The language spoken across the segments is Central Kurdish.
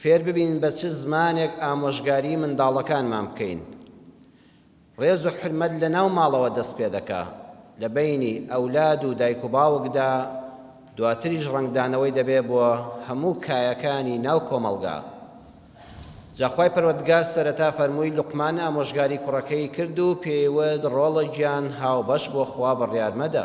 فێر ببین بە چ زمانێک ئامۆژگاری منداڵەکانمان بکەین ڕێز و حورمەت لە ناو ماڵەوە دەست پێ دەکا لە بەینی ئەولاد و دایک و باوکدا دواتریش ڕەنگدانەوەی دەبێ بۆ هەموو کایەکانی ناو کۆمەڵگا جا خوای پەروەردگار سەرەتا فەرمووی لوقمان ئامۆژگاری کوڕەکەی کرد و پێیوت ڕۆڵە گیان هاوبەش بۆ خوا بڕیار مەدە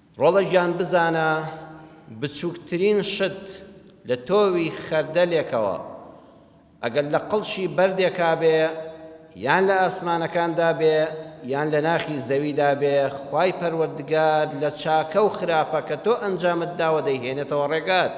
ڕۆڵە گیان بزانە بچوکترین شت لە تۆوی خەردەلێکەوە ئەگەر لە قڵشی بەردێکا بێ یان لە ئاسمانەکاندا بێ یان لە ناخی زەویدا بێ خوای پەروەردگار لە چاکە و خراپە کە تۆ ئەنجامت داوە دەیهێنێتەوە ڕێگات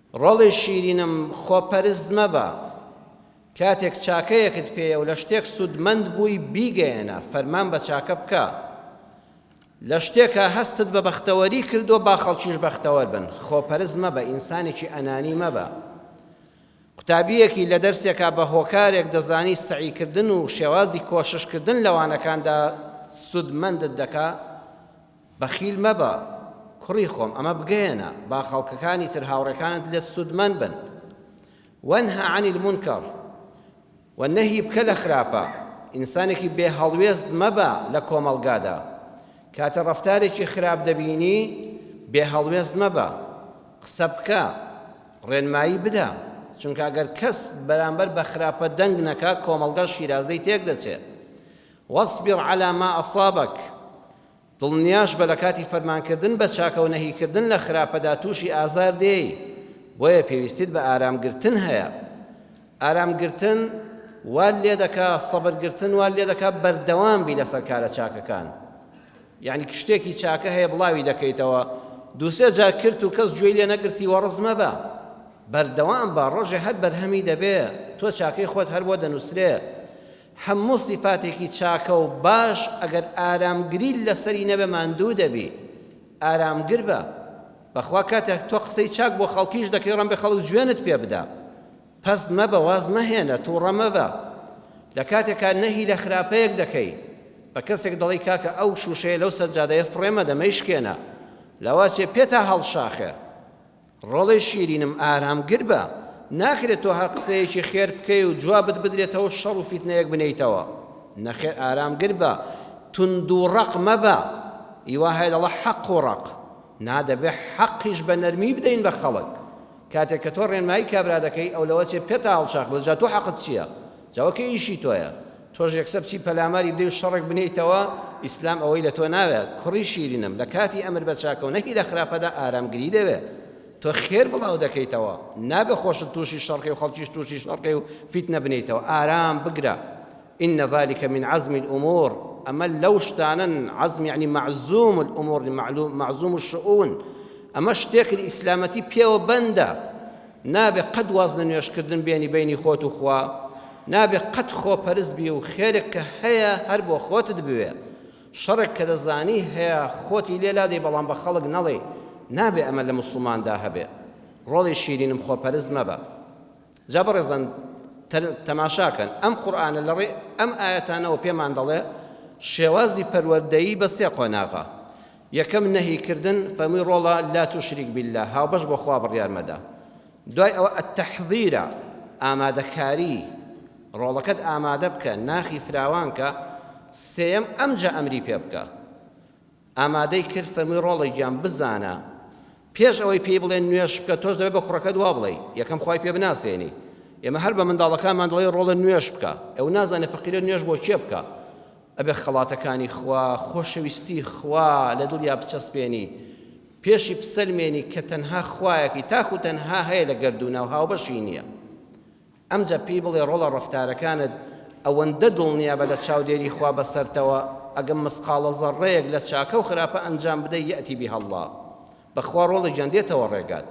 ڕۆڵی شیرینم خۆپەرست مەبە کاتێک چاکەیەکت پێیە و لە شتێک سوودمەند بووی بیگەیەنە فەرمان بە چاکە بکە لە شتێکا هەستت بە بەختەوەری کردووە با خەڵکیش بەختەوەر بن خۆپەرست مەبە ئینسانێکی ئەنانی مەبە قوتابیەکی لە دەرسێکا بە هۆکارێک دەزانی سەعیکردن و شێوازی کۆششکردن لە وانەکاندا سوودمەندت دەکا بەخیل مەبە کوڕی خۆم ئەمە بگەیەنە با خەڵکەکانی تر هاوڕێکانت لێت سوودمەند بن وەنهە عن المنکر و نەهی بکە لە خراپە ئینسانێکی بێ هەڵوێست مەبە لە کۆمەڵگادا کاتە ڕەفتارێکی خراپ دەبینی بێ هەڵوێست مەبە قسە بکە ڕێنمایی بدە چونکە ئەگەر کەس بەرامبەر بە خراپە دەنگ نەکا کۆمەڵگا شیرازەی تێک دەچێت واصبر على ما أصابك دڵنیاش بە لەکاتی فەرمانکردن بە چاکە و نەهیکردن لە خراپەدا تووشی ئازار دێی، بۆیە پێویستیت بە ئارام گرتن هەیە. ئارام گرتن وات لێدەکا سەبر گرتن وات لێدەکا بەردەوام بی لەسەر کارە چاکەکان. یەعنی شتێکی چاکە هەیە بڵاوی دەکەیتەوە، دوو سێ جار کرت و کەس گوێی لێ نەگرتی وەڕس مەبە. بەردەوام بە، ڕۆژێ هەر بەرهەمی دەبێ، تۆ چاکەی خۆت هەر بۆ دەنووسرێ. هەموو سیفاتێکی چاکە و باش ئەگەر ئارامگریت لەسەری نەبێ ماندوو دەبی ئارامگر بە بەخوا کاتێک تۆ قسەی چاک بۆ خەڵکیش دەکەی ڕەنبێ خەڵک جوێنت پێ بدا پەست مەبە واز مەهێنە توڕە مەبە لە کاتێکا نەهی لە خراپەیەک دەکەی بە کەسێک دەڵی کاکە ئەو شوشەیە لەو سەجادەیە فڕێمە دەمەی شکێنە لەواچێ پێتا هەڵشاخێ ڕۆڵەی شیرینم ئارام گر بە، ناکرێت تۆ هەر قسەیەکی خێر بکەی و جوابت بدرێتەوە شەڕ و فیتنەیەک بنێیتەوە نەخێر ئارام گر بە توند و ڕەق مەبە ئیوا هەیە دەڵە حەق و ڕەق نا دەبێ حەقیش بە نەرمی بدەین بە خەڵک کاتێک کە تۆ ڕێنمایی کابرا دەکەی ئەو لەوە چێ پێتە هەڵچەق بەس جا تۆ حەقت چیە جا ئەوکە ئیشی تۆیە تۆش یەکسەر بچی پەلاماری بدەی و شەڕێک بنێیتەوە، ئیسلام ئەوەی لە تۆ ناوێ، کوڕی شیرینم، لە کاتی ئەمر بە چاکە و نەهی لە خراپەدا ئارامگری دەوێ. تۆ خێر بڵاو دەکەیتەوە، نابێ خۆشت تووشی شەڕکەی و خەڵکیش تووشی شەڕکەی و فیتنە بنێیتەوە، ئارام بگرە، ان ذلک من عزم الامور، ئەمە لەو شتانەن، عزم یەعنی معزوم الامور، معزوم الشئون، ئەمە شتێکن ئیسلامەتی پێوە بەندە. نابێ قەت واز لە نوێژ کردن بێنی بەینی خۆت و خوا نابێ قەت خۆ پەرست بی و خێرێک کە هەیە هەر بۆ خۆتت بوێ شەڕێک کە دەزانی هەیە خۆتی لێ لادەی بەڵام بە خەڵک نەڵێی نابێ ئەمە لە موسڵمان دا هەبێ ڕۆڵی شیرینم خۆ پەرست مەبە جا بەڕێزان تەماشاکەن ئەم قورآانە لە ڕێ ئەم ئاەتانەوە پێمان دەڵێ شێوازی پەروەردەیی بە سێ قۆناغە یەکەم، نەهی کردن، فەرمووی، ڕۆڵە، لا تشرک باللە، هاوبەش بۆ خوا بڕیار مەدە. دوای ئەوە، التحضیرە، ئامادەکاری، ڕۆڵەکەت ئامادە بکە، ناخی فراوان کە. سێیەم، ئەمجا ئەمری پێ بکە. ئامادەی کرد، فەرمووی، ڕۆڵە گیان، بزانە، پێش ئەوەی پێی بڵێن نوێژ بکە تۆش دەبێت بە کوڕەکەت وا بڵێی یەکەم خوای پێ بناسێنی ئێمە هەر بە منداڵەکانمان دەڵێ ڕۆڵە نوێژ بکە ئەو نازانێت فەقیرە نوێژ بۆ کێ بکە ئەبێ خەڵاتەکانی خوا خۆشەویستی خوا لە دڵیا بچەسپێنی پێشی بسەلمێنی کە تەنها خوایەکی تاکو تەنها هەیە لە گەردووناو هاوبەشی نییە ئەمجا پێی بڵێ ڕۆڵە ڕەفتارەکانت ئەوەندە دڵنیابە لە چاودێری خوا بەسەرتەوە ئەگەم مسقاڵە زەڕڕەیەک لە چاکەو خراپە ئەنجام بدەی یەئتی بیها اللە بەخوا ڕۆڵی گیان دێتەوە ڕێگات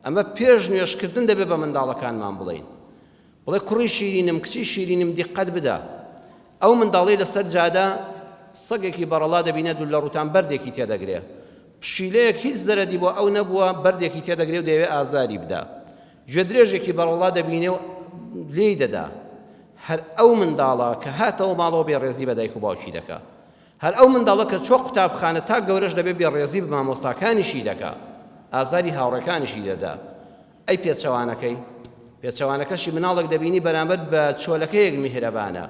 ئەمە پێش نوێژ کردن دەبێ بە منداڵەکانمان بڵێین بڵێ کوڕی شیرینم کچی شیرینم دیقەت بدە ئەو منداڵەی لەسەر جادە سەگێکی بەڕەڵا دەبینێ دوو لە ڕووتان بەردێکی تێدەگرێ پشیلەیەک هیچ زەرەدی بۆ ئەو نەبووە بەردێکی تێدەگرێ و دەیەوێ ئازاری بدا گوێدرێژێکی بەڕەڵڵا دەبینێ و لێی دەدا، هەر ئەو منداڵە کە هاتەوە ماڵەوە بێڕێزی بە دایک و باوکی دەکا، هەر ئەو منداڵە کە چووە قوتابخانە تا گەورەش دەبێ بێڕێزی بە مامۆستاکانیشی دەکا، ئازاری هاوڕێکانیشی دەدا. ئەی پێچەوانەکەی؟ پێچەوانەکەشی مناڵێک دەبینی بەرامبەر بە چۆلەکەیەک میهرەبانە،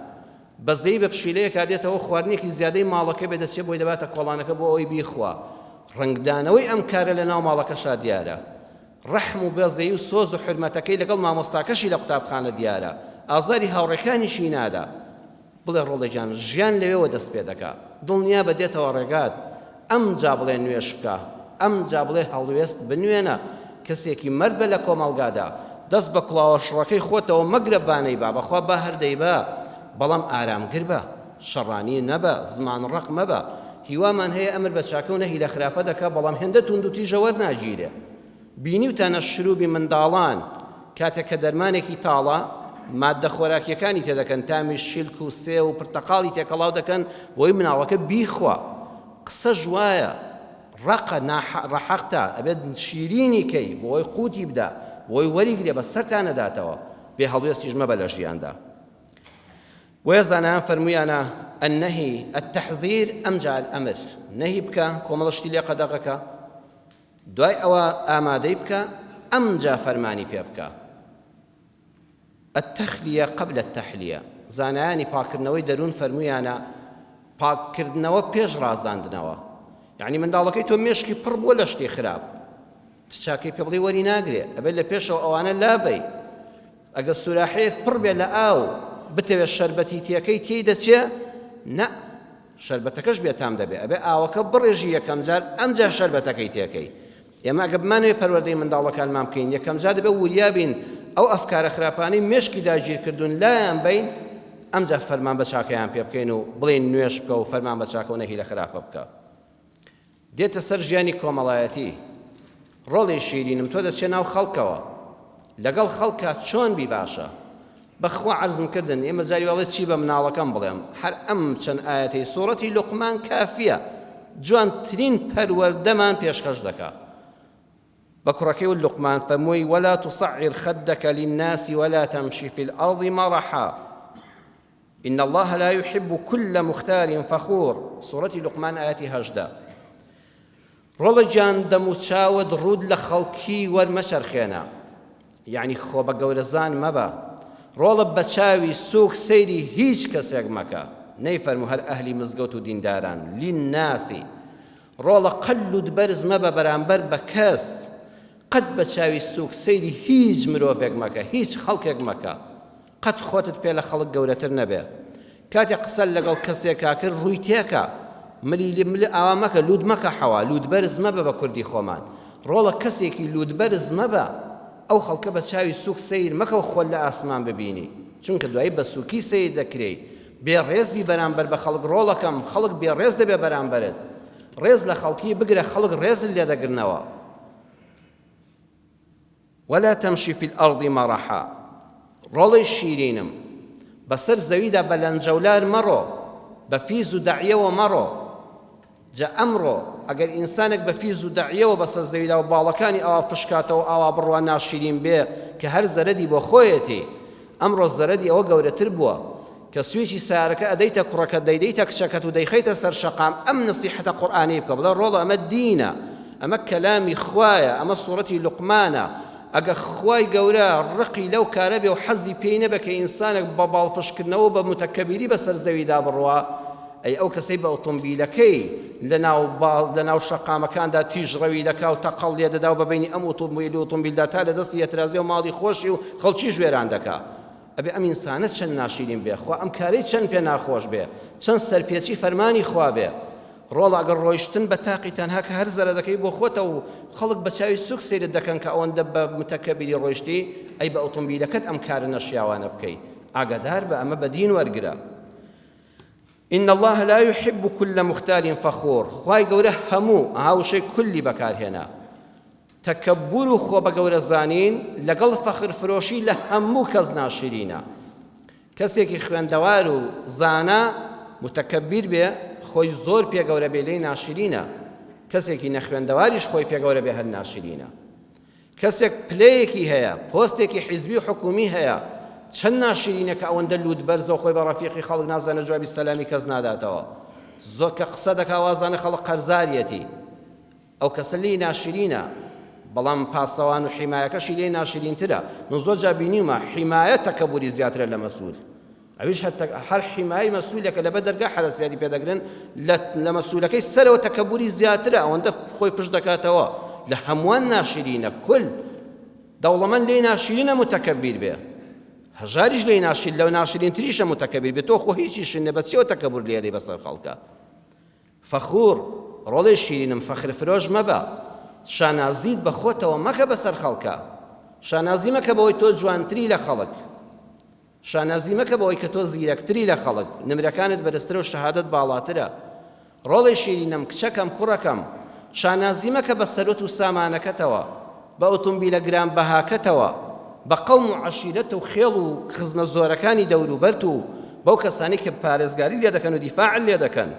بەزەیی بە پشیلەیەکا دێتەوە، خواردنێکی زیادەی ماڵەکەی بێ دەچێ بۆی دەباتە کۆڵانەکە بۆ ئەوەی بیخوا، ڕەنگدانەوەی ئەم کارە لە ناو ماڵەکەشا دیارە. ڕەحم و بەزەیی و سۆز و حورمەتەکەی لەگەڵ مامۆستاکەشی لە قوتابخانە دیارە، ئازاری هاوڕێکانیشی نادا. بڵێ ڕۆڵە گیان، ژیان لەوێوە دەست پێ دەکا. دڵنیابە دێتەوە ڕێگات. ئەمجا بڵێ نوێژ بکە. ئەمجا بڵێ هەڵوێست بنوێنە. کەسێکی مەرد بە لە کۆمەڵگادا. دەست بە کوڵاوە شڕەکەی خۆتەوە مەگرە بانەی با. بەخوا با هەر دەیبا، بەڵام ئارامگر بە. شەڕانی نەبە زمان ڕەق مەبە. هیوامان هەیە ئەمر بە چاکە و نەهی لە خراپە دەکا بەڵام هێندە تووند و تیژە وەرناگیرێ. بینیوتانە شروبی منداڵان کاتێک کە دەرمانێکی تاڵە ماددە خۆراکیەکانی تێدەکەن تامی شیلک و سێو و پرتەقاڵی تێکەڵاو دەکەن بۆی مناڵەکە بیخوا قسەش وایە ڕەقە نا ڕەحەقتە ئەبێت شیرینی کەی بۆی قوتی بدا بۆی وەریگرێ بەس سەرتا نەداتەوە بێ هەڵوێستیش مەبە لە ژیاندا بۆیە زانایان فەرموویانە، النهی التحذیر امجع الامر، نەهی بکە کۆمەڵە شتی لێ قەدەغەکە، دوای ئەوە ئامادەی بکە، ئەمجا فەرمانی پێ بکە. التخلیە قبل التحلیە، زانایانی پاککردنەوەی دەروون فەرموویانە، پاککردنەوە پێش ڕازاندنەوە، یەعنی منداڵەکەی تۆ مێشکی پڕ بووە لە شتی خراپ، چ چاکەی پێ بڵێی وەری ناگرێ ئەبێ لە پێشەوە ئەوانە لابەی ئەگەر سوراحەیەک پڕ بێ لە ئاو بتەوێ شەربەتی تێکەی تێی دەچێ نە شەربەتەکەش بێتام دەبێ ئەبێ ئاوەکە بڕێژی یەکەم جار ئەمجا شەربەتەکەی تێکەی ئێمە ئەگە بمانوێ پەروەردەی منداڵەکانمان بکەین یەکەم جا دەبێ وریابین ئەو ئەفکارە خراپانەی مێشکی داگیرکردوون لایان بین ئەمجا فەرمان بە چاکەیان پێ بکەین و بڵێن نوێش بکە و فەرمان بە چاکە و نەهی لە خراپە بکە دێتە سەر ژیانی کۆمەڵایەتی ڕۆڵی شیرینم تۆ دەچێ ناو خەڵکەوە لەگەڵ خەڵکا چۆن بی باشە بەخوا عەرزم کردن ئێمە جاری واڵێ چی بە مناڵەکەم بڵێم هەر ئەم چەند ئاەتی سوڕەتی لقمان کافیە جوانترین پەروەردەمان پێشخەش دەکا بە کوڕەکەی و لقمان فەمووی وەلا تصعر خدك للناس ولا تمشي في الأرض مرحا ان اللە لا یحب کل مختال فخور سورەتی لوقمان ئایەتی هەژدە ڕۆڵە گیان دەم و چاوت ڕوود لە خەڵکی وەرمەچەرخێنە یعنی خۆ بە گەورەزان مەبە ڕۆڵە بە چاوی سوک سەیری هیچ کەسێک مەکە نەیفەرمو هەر ئەهلی مزگەوت و دینداران للناسی ڕۆڵە قەلود بەرز مەبە بەرامبەر بە کەس قەت بە چاوی سوک سەیری هیچ مرۆڤێک مەکە هیچ خەڵکێک مەکە قەت خۆتت پێ لە خەڵک گەورەتر نەبێ کاتێ قسە لەگەڵ کەسێکا کرد ڕووی تێکە ملی لی مل ئاوا مەکە لوت مەکە حەوا لوت بەرز مەبە بە کوردی خۆمان ڕۆڵە کەسێکی لوت بەرز مەبە ئەو خەڵکە بە چاوی سووک سەیر مەکە و خۆت لە ئاسمان ببینی چونکە دوایی بە سووکی سەیر دەکرێی بێ ڕێز بی بەرامبەر بە خەڵک ڕۆڵەکەم خەڵک بێ ڕێز دەبێ بەرامبەرت ڕێز لە خەڵکی بگرە خەڵک ڕێزت لێ دەگرنەوە. ولا تمشی فی الارض مرحا ڕۆڵەی شیرینم بەسەر زەویدا بە لەنجەولار مەڕۆ بە فیز و دەعیەوە مەڕۆ جا ئەمڕۆ ئەگەر ئینسانێک بە فیز و دەعیەوە بەسەر زەویدا و باڵەکانی ئاوا فشکاتەوە ئاوا بڕوا ناشیرین بێ کە هەر زەرەدی بۆ خۆیەتی ئەمڕۆ زەرەدی ئەوە گەورەتر بووە کە سویچی سەیارەکە ئەدەیتە کوڕەکەت دەیدەیتە کچەکەت و دەیخەیتە سەر شەقام ئەم نەسیحەتە قورئانیەی بکە بڵێ ڕۆڵە ئەمە دینە ئەمە کەلامی خوایە ئەمە سوڕەتی لوقمانە ئەگە خوای گەورە ڕقی لەو کارە بێ و حەزی پێی نەبێ کە ئینسانێک بە باڵفشکردنەوە بە موتەکەبیری بەسەر زەویدا بڕوا ئەی ئەو کەسەی بە ئۆتۆمبیلەکەی لەناو باڵ لەناو شەقامەکاندا تیژڕەوی دەکا و تەقەڵ لێ دەدا و بە بینی ئەم ئۆتۆمبیل و ئۆتۆمبیلدا تا لە دەستی ئەترازێ و ماڵی خۆشی و خەڵکیش وێران دەکا ئەبێ ئەم ئینسانە چەند ناشیرین بێ خوا ئەم کارەی چەند پێ ناخۆش بێ چەند سەرپێچی فەرمانی خوا بێ ڕۆڵە ئەگەر ڕۆیشتن بە تاقی تەنها کە هەر زەرە دەکەی بۆ خۆتە و خەڵک بە چاوی سوک سەیرت دەکەن کە ئەوەندە بە متەکەبیری ڕۆیشتی ئەی بە ئۆتۆمبیلەکەت ئەم کارە نەشیاوانە بکەی ئاگادار بە ئەمە بە دین وەرگرە إن الله لا يحب كل مختال فخور خوای گەورە هەموو هاوشەی کلی بەکارهێنا تەکەببور و خۆ بە گەورە زانین لەگەڵ فەخر فرۆشی لە هەموو کەس ناشرینە. کەسێکی خوێندەوار و زانا متەکەبیر بێ خۆی زۆر پێ گەورە بێ لێی ناشرینە. کەسێکی نەخوێندەواریش خۆی پێ گەورە بێ هەر ناشرینە. کەسێک پلەیەکی هەیە، پۆستێکی حیزبی و حکوومی هەیە، چەند ناشرینە کە ئەوەندە لووتبەرزە و خۆی بە ڕەفیقی خەڵک نازانێ جوابی سەلامی کەس ناداتەوە. زۆر کە قسە دەکا وازانێ خەڵک قەرزاریەتی. ئەو کەسە لێی ناشرینە بەڵام پاسەوان و حیمایەکەشی لێی ناشرینترە من زۆر جار بینیومە حیمایە تەکەبوری زیاترە لە مەسول ئەویش هەر حیمای مەسولەکە لەبەر دەرگا حەرەسیاری پێدەگرن لە مەسولەکەی سەرەوە تەکەبوری زیاترە ئەوەندە خۆی فش دەکاتەوە لە هەمووان ناشرینە کل دەوڵەمەند لێی ناشرینە متەکەبیر بێ هەژاریش لێی ناشرین لەو ناشرینتریشە متەکەبیر بێ تۆ خۆ هیچیشن نە بەچیەوە تەکەبور لێری بەسەر خەڵکە فەخور، ڕۆڵێ شیرینم فەخر فرۆش مەبە، شانازیت بە خۆتەوە مەکە بەسەر خەڵکا، شانازی مەکە بەوەی تۆ جوانتری لە خەڵک، شانازی مەکە بەوەی کە تۆ زیرەکتری لە خەڵک، نمرەکانت بەرزترە و شەهادەت باڵاترە، ڕۆڵێ شیرینم کچەکەم کوڕەکەم، شانازی مەکە بە سەروەت و سامانەکەتەوە، بە ئۆتۆمبیلە گرانبەهاکەتەوە، بە قەوم و عەشیرەت و خێڵ و خزمە زۆرەکانی دەوروبەرت و بەو کەسانەی کە پارێزگاری لێ دەکەن و دیفاعت لێ دەکەن.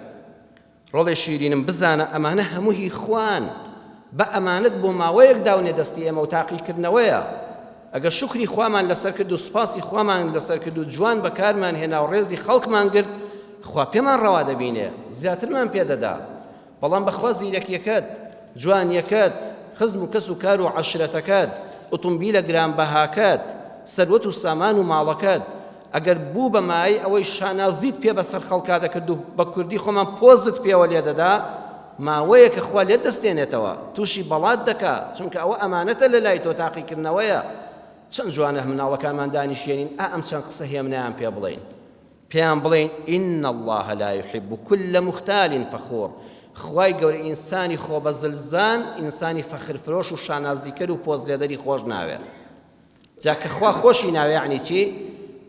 ڕۆڵێ شیرینم بزانە ئەمانە هەموو هی خوان، بە ئەمانەت بۆ ماوەیەک داونە دەستی ئێمە و تاقیکردنەوەیە. ئەگەر شوکری خوامان لەسەر کرد و سوپاسی خوامان لەسەر کرد و جوان بەکارمان هێنا و ڕێزی خەڵکمان گرت، خوا پێمان ڕەوا دەبینێ، زیاترمان پێ دەدا. بەڵام بەخوا زیرەکیەکەت، جوانیەکەت، خزم و کەس و کار و عەشرەتەکەت، ئوتومبیلە گرانبەهاکەت، سەروەت و سامان و ماڵەکەت ئەگەر بوو بە مایەی ئەوەی شانازیت پێ بەسەر خەڵکا دەکرد و بە کوردی خۆمان پۆزت پێوە لێدەدا ماوەیەکە خوا لێت دەستێنێتەوە توشی بەڵات دەکا چونکە ئەوە ئەمانەتە لە لای تۆ تاقیکردنەوەیە چەند جوانە مناڵەکانمان دانیشێنین ئا ئەم چەند قسە هێمنەیان پێ بڵێین پێیان بڵێن، ان اللە لا یحب کل مختال فخور، خوای گەورە ئینسانی خۆبەزلزان، ئینسانی فەخرفرۆش و شانازیکەر و پۆزلێدەری خۆش ناوێ. جا کە خوا خۆشی ناوێ یەعنی چی؟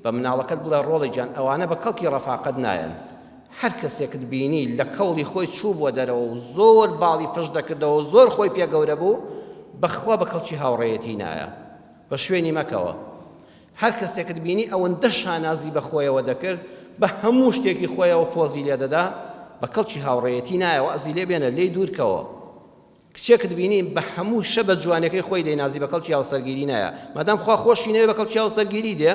بە مناڵەکەت بڵێ، ڕۆڵە گیان ئەوانە بە کەڵکی ڕەفاقەت نایەن. هەر کەسێکت بینی لە کەوڵی خۆی چووبووە دەرەوە و زۆر باڵی فش دەکردەوە و زۆر خۆی پێ گەورە بوو، بەخوا بە کەڵکی هاوڕێیەتی نایە. بە شوێنی مەکەوە. هەر کەسێکت بینی ئەوەندە شانازی بە خۆیەوە دەکرد، بە هەموو شتێکی خۆیەوە پۆزی لێ دەدا، بە کەڵکی هاوڕێیەتی نایە، وەعزی لێ بێنە، لێی دوور کەوە. کچێکت بینی بە هەموو شە بە جوانیەکەی خۆی دەینازی، بە کەڵکی هاوسەرگیری نایە، مادام خوا خۆشی نەوێ بە کەڵکی هاوسەرگیری دێ.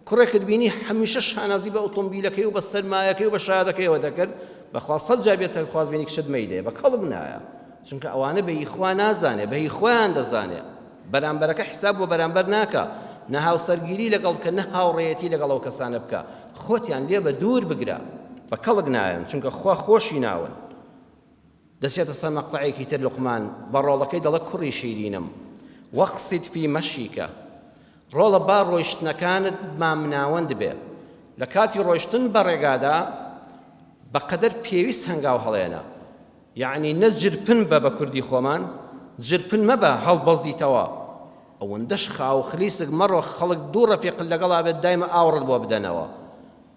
کوڕێکت بینی هەمیشە شانازی بە ئوتومبیلەکەی و بە سەرمایەکەی و بە شایەدەکەیەوە دەکرد، بەخوا سەد جار بێتە خوازبێنی کچت مەیدێ، بە کەڵک نایە. چونکە ئەوانە بە هی خوا نازانێ، بە هی خۆیان دەزانێ. بەرامبەرەکە حساب بۆ بەرامبەر ناکا، نە هاوسەرگیری لەگەڵ بکە نە هاوڕێیەتی لەگەڵ ئەو کەسانە بکە، خۆتیان لێ بە دوور بگرە، بە کەڵک نایەن چونکە خوا خۆشی ناون. دەچێتە سەر مەقتەعێکی تر لوقمان بە ڕۆڵەکەی دەڵێ کوڕی شیرینم واقصد فی مشیک ڕۆڵە با ڕۆیشتنەکانت مامناوەند بێ لە کاتی ڕۆیشتن بە ڕێگادا بە قەدەر پێویست هەنگاو هەڵێنە یەعنی نە جرپن بە بە کوردی خۆمان جرپن مەبە هەڵبەزیتەوە ئەوەندەش خاو خلیسک مەڕۆ خەڵک دوو ڕەفیقت لەگەڵا بێت دایمە ئاوڕت بۆ بدەنەوە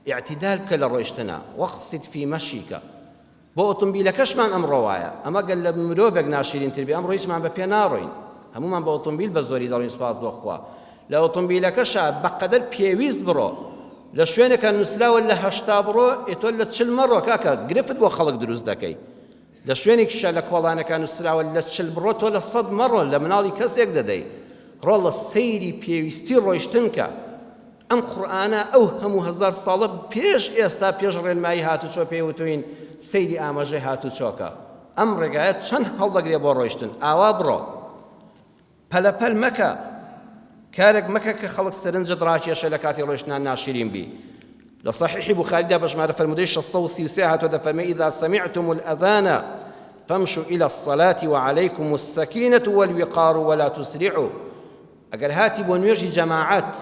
ئیعتیدال بکە لە ڕۆیشتنا واقصد فی مشیک بۆ ئۆتۆمبیلەکەشمان ئەمڕۆ وایە ئەمە گەر لە مرۆڤێک ناشیرینتر بێ ئەمڕۆ هیچمان بە پێ ناڕۆین هەموومان بە ئۆتۆمبیل بە زۆری دەڕۆین سوپاس بۆ خوا لە ئۆتۆمبیلەکەشا بەقەدەر پێویست بڕۆ، لە شوێنێکا نوسراوە لە هەشتا بڕۆ ئێ تۆ لە چل مەڕۆ کاکە گرفت بۆ خەڵک دروست دەکەی، لە شوێنێکیشا لە کۆڵانەکا نوسراوە لە چل بڕۆ تۆ لە سەد مەڕۆ لە مناڵی کەسێک دەدەی، ڕۆڵە سەیری پێویستی ڕۆیشتن کە، ئەم قورئانە ئەو هەموو هەزار ساڵە پێش ئێستا پێش ڕێنمایی هاتوچۆ پێی وتوین سەیری ئاماژەی هاتوچۆکە، ئەم ڕێگایە چەند هەڵدەگرێ بۆ ڕۆیشتن، ئاوا بڕۆ. پەلە پەل مەکە، کارێک مەکە کە خەڵک سەرنجت ڕاکێشێ لە کاتی ڕۆیشتنا ناشرین بی، لە صحیحی بوخاریدا بە ژمارە فەرموودەی شەش سەد و سی و سێ هاتووە دەفەرمێ اذا سمعتم الاذان فامشوا الی الصلاة وعلیکم السکینە والوقار ولا تسرعوا ئەگەر هاتی بۆ نوێژی جەماعەت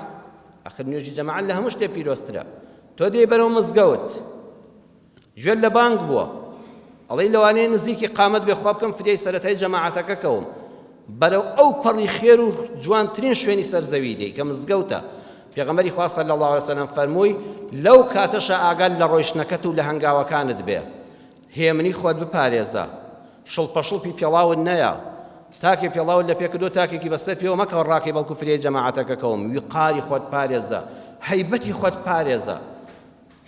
ئەخر نوێژی جەماعەت لە هەموو شتێ پیرۆزترە تۆ دێی بەرەو مزگەوت گوێت لە بانگ بووە ئەڵێی لەوانەیە نزیکی قامەت بێ خوا بکەم فدیای سەرەتای جەماعەتەکە کەوم بەرەو ئەو پەڕی خێر و جوانترین شوێنی سەر زەوی دێی کە مزگەوتە پێغەمبەری خوا صلی الله علیه وسلم فەرمووی لەو کاتەشە ئاگال لە ڕۆیشتنەکەت و لە هەنگاوەکانت بێ هێمنی خۆت بپارێزە شڵپەشڵپی پێڵاون نەیە تاکێ پێڵاو لە پێکردو تاکێکی بەسەر پێوە مەکەوە ڕاکەی بەڵکو فرێ جەماعەتەکەکەوم ویقاری خۆت پارێزە هەیبەتی خۆت پارێزە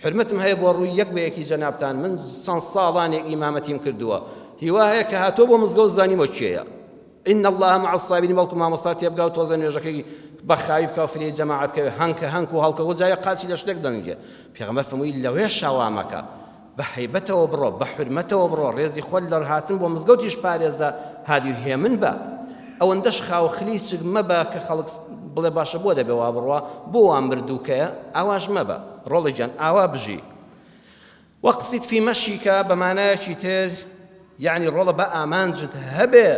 حورمەتم هەیە بۆ ڕووی یەک بە یەکی جەنابتان، من چەند ساڵانێک ئیمامەتیم کردووە، هیوا هەیە کە هاتووە بۆ مزگەوت زانیوە کێیە، ان اللە مع الصابرین بەڵکو مامۆستا تێبگا و تۆزە نوێژەکەی بە خاوی بکە و فرێی جەماعەت کەوێ، هەنکە هەنک و هەڵکە و جارێ قاچی لە شتێک دەنگێ، پێغەمبەر فەرمووی لەوێشا وا مەکە، بە هەیبەتەوە بڕۆ، بە حورمەتەوە بڕۆ، ڕێزی خۆت لە هاتن بۆ مزگەوتیش پارێزە، هادی و هێمن بە، ئەوەندەش خاو و خلیچک مەبە کە خەڵک بڵێ باشە بۆ دەبێ وا بڕوا، بۆ وا مردووکەیە، ئاواش مەبە. ڕۆڵی گیان ئاوا بژی. واقصد فی مشیک بە مانایەکی تر یەعنی ڕۆڵە با ئامانجت هەبێ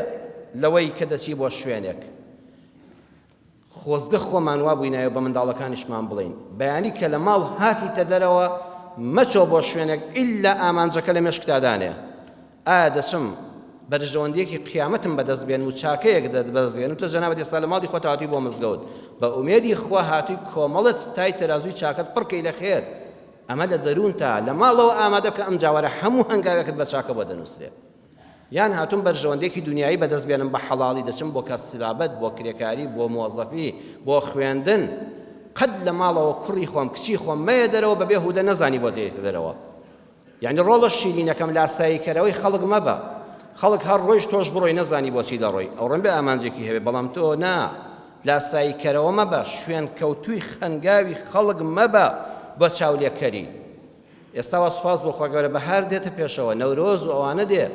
لەوەی کە دەچی بۆ شوێنێک. خۆزگە خۆمان وا بووینایە بە منداڵەکانیشمان بڵێین بەیانی کە لە ماڵ هاتیتە دەرەوە مەچۆ بۆ شوێنێک ئیلا ئامانجەکە لە مێشکتا دانێ ئایا دەچم بەرژەوەندیەکی قیامەتم بەدەست بێنم و چاکەیەک دەدبەست بێنم تۆ جەنابت ئێستا لە ماڵی خۆت هاتووی بۆ مزگەوت بە ئومێدی خوا هاتووی کۆمەڵت تای تەرازووی چاکەت پڕکەی لە خێر ئەمە لە دەروونتا لە ماڵەوە ئامادە بکە ئەم جاوەرە هەموو هەنگاوێکت بە چاکە بۆ دەنووسرێت یان هاتوم بەرژەوەندێکی دنیایی بەدەست بێنم بە حەڵاڵی دەچم بۆ کەسبابەت بۆ کرێکاری بۆ مۆزەفی بۆ خوێندن قەت لە ماڵەوە کوڕی خۆم کچی خۆم مەیە دەرەوە بەبێ هودە نەزانی بۆ دێتە دەرەوە یانی ڕۆڵە شیرینەکەم لاسایی کەرەوەی خەڵک مەبە خەڵک هەر ڕۆیشت تۆش بڕۆی نەزانی بۆچی دەڕۆی ئەوڕۆم بێ ئامانجێکی هەبێ بەڵام تۆ نا لاسایی کەرەوە مەبە شوێن کەوتوی خەنگاوی خەڵک مەبە بە چاولێکەری ئێستاوە سوپاس بۆ خۆگەورە بەهار دێتە پێشەوە نەورۆز و ئەوانە دێ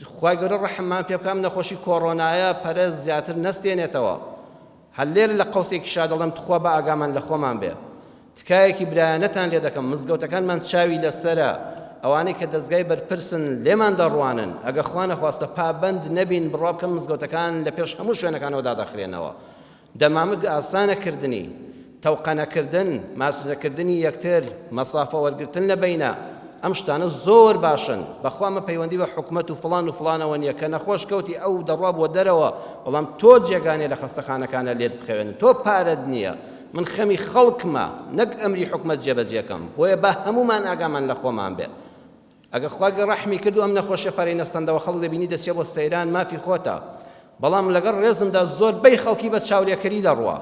خوای گەورە ڕەحممان پێ بکا ئەم نەخۆشی کۆڕۆنایە پەرەست زیاتر نەستێنێتەوە هەر لێرە لە قەوسێکیشا دەڵێم تخوا با ئاگامان لە خۆمان بێ تکایەکی برایانەتان لێ دەکەم مزگەوتەکانمان چاوی لەسەرە ئەوانەی کە دەزگای بەرپرسن لێمان دەڕوانن ئەگە خوا نەخواستە پابەند نەبین بڕوا بکەم مزگەوتەکان لە پێش هەموو شوێنەکانەوە دادەخرێنەوە دەمامک ئاسانە کردنی، تەوقەنە کردن، ماچنە کردنی یەکتر، مەسافە وەرگرتن لە بەینە، ئەم شتانە زۆر باشن، بەخوا مە پەیوەندی بە حکومەت و فڵان و فڵانەوە نیە، کە نەخۆش کەوتی ئەو دەڕوا بۆ دەرەوە، بەڵام تۆ جێگا نیە لە خەستەخانەکانە لێت بخەوێنن، تۆ پارەت نیە، من خەمی خەڵکمە نەک ئەمری حکومەت جێبەجێ کەم، بۆیە با هەموومان ئاگامان لە خۆمان بێ، ئەگەر خوا گە ڕەحمی کرد و ئەم نەخۆشیە پەرەی نەستەندەوە خەڵک دەبینی دەچێ بۆ سەیران مافی خۆتە بەڵام لەگەڵ ڕێزمدا زۆر بەی خەڵکی بە چاولێکەری دەڕوا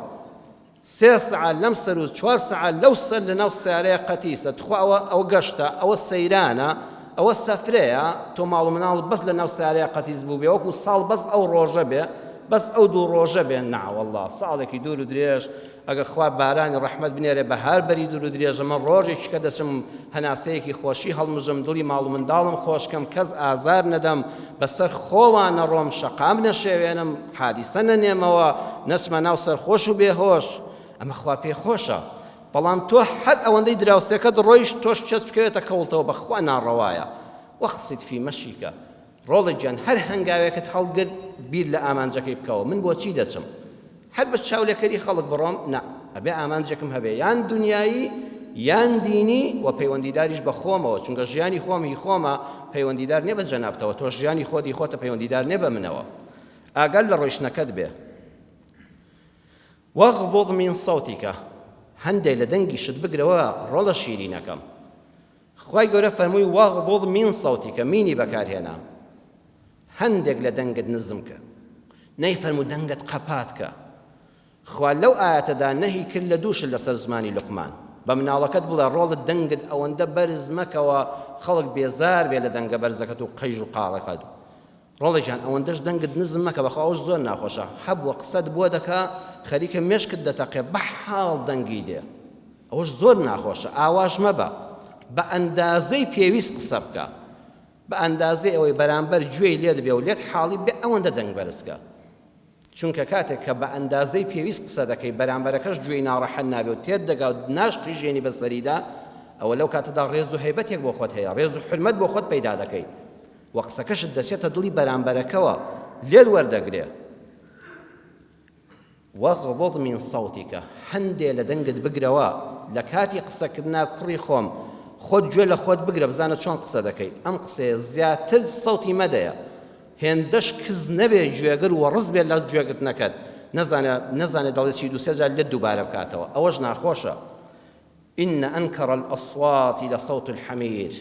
سێ سعال لەم سەر و چوار سعال لەو سەر لە ناو سیارەیە قەتیسە تخوا ئەوە ئەوە گەشتە ئەوە سەیرانە ئەوە سەفرەیە تۆ ماڵ و مناڵ بەس لە ناو سیارەیە قەتیس بوو بێ وەکو ساڵ بەس ئەو ڕۆژە بێ بەس ئەو دوو ڕۆژە بێ ناوەله ساڵێکی دوور و درێژ ئەگەر خوا بارانی ڕەحمەت بنێرێ بەهار بەری دوور و درێژە من ڕۆژێکی کە دەچم هەناسەیەکی خۆشی هەڵمژم دڵی ماڵ و منداڵم خۆش کەم کەس ئازار نەدەم بەسەر خۆوە نەڕۆم شەقام نەشێوێنم حادیسە نەنێمەوە نەچمە ناو سەرخۆش و بێهۆش ئەمە خوا پێی خۆشە بەڵام تۆ هەر ئەوەندەی دراوسێکەت ڕۆیشت تۆش چێت بکەوێتە کەوڵتەوە بەخوا ناڕەوایە وەقسید فی مەشیکە ڕۆڵەت گیان هەر هەنگاوێکت هەڵگرت بیر لە ئامانجەکەی بکەوە من بۆچی دەچم هەر بە چاولێکەری خەڵک بڕۆم نا ئەبێ ئامانجێکم هەبێ یان دنیایی یان دینی و پەیوەندیداریش بە خۆمەوە چونکە ژیانی خۆمی خۆمە پەیوەندیدار نیە بە جەنابتەوە تۆ ژیانی خۆدی خۆتە پەیوەندیدار نیە بە منەوە ئاگەر لە ڕۆیشتنەکەت بێ وەغضض من صوتیکە هەندێک لە دەنگیشت بگرەوە ڕۆڵە شیرینەکەم خوای گەورە فەرمووی، واغضض من صوتک، مینی بەکارهێنە، هەندێک لە دەنگت نزم کە، نەیفەرموو دەنگت قەپات کە، خوا لەو ئایەتەدا نەهی کرد لە دوو شت لەسەر زمانی لوقمان، بە مناڵەکەت بڵێ ڕۆڵت دەنگت ئەوەندە بەرز مەکەوە خەڵک بێزار بێ لە دەنگە بەرزەکەت و قژ و قاڕەکەت، ڕۆڵە گیان ئەوەندەش دەنگت نزم مەکە بەخوا ئەوش زۆر ناخۆشە هەبوە قسەت بۆ دەکا خەریکە مێشکت دەتەقێ بەحاڵ دەنگی دێ ئەوش زۆر ناخۆشە ئاواش مەبە بە ئەندازەی پێویست قسە بکە بە ئەندازەی ئەوەی بەرامبەر گوێی لێت بێ و لێت حاڵی بێ ئەوەندە دەنگ بەرز کە. چونکە کاتێک کە بە ئەندازەی پێویست قسە دەکەی بەرامبەرەکەش گوێی ناڕەحەت نابێ و تێت دەگا و ناشقیژێنی بە سەریدا ئەوە لەو کاتەدا ڕێز و هەیبەتێک بۆ خۆت هەیە ڕێز و حورمەت بۆ خۆت پەیدا دەکەی و قسەکەشت دەچێتە دڵی بەرامبەرەکەوە لێت وەردەگرێ وەغضض من صوتیکە هەندێ لە دەنگت بگرەوە لە کاتی قسەکردنا کوڕی خۆم خۆت گوێ لە خۆت بگرە بزانە چۆن قسە دەکەیت ئەم قسەیە زیاتر سەوتی مەدەیە هێندەش کز نەبێ گوێگر وەڕس بێ لە گوێگرتنەکەت نەزانێ نەزانێ دەڵێ چی دوو سێ جار لێت دووبارە بکاتەوە ئەوەش ناخۆشە ان انکر الاصوات لصوت الحمیر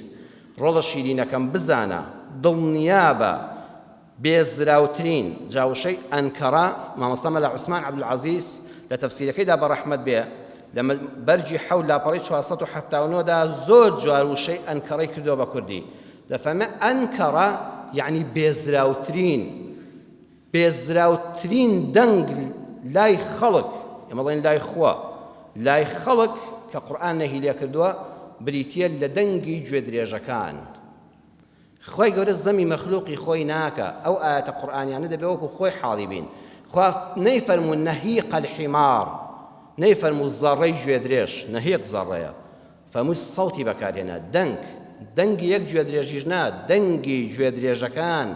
ڕۆڵە شیرینەکەم بزانە دڵنیابە بێزراوترین جا وشەی انکر مامۆستا مەلا عوسمان عبدالعزیز لە تەفسیرەکەیدا بە ڕەحمەت بێ لە بەرگی حەوت لاپەڕەی 479 دا زۆر جوار وشەی انکرەی کردووە بە کوردی دەفەرمێ، ئەنکەرە یەعنی بێزراوترین، بێزراوترین دەنگ لای خەڵک، ئێمە دەڵێین لای خوا، لای خەڵک کە قورئان نەهی لێکردووە بریتییە لە دەنگی گوێدرێژەکان. خوای گەورە زەمی مەخلوقی خۆی ناکا، ئەو ئایەتە قورئانیانە دەبێ وەکو خۆی حاڵی بین. خوا نەیفەرموو نهیق الحمار، نەیفەرموو زەڕەی گوێدرێژ، نهیق زەڕەیە. فەموو سەوتی بەکارهێنا، دەنگ، دەنگی یەک گوێدرێژیش نا، دەنگی گوێدرێژەکان،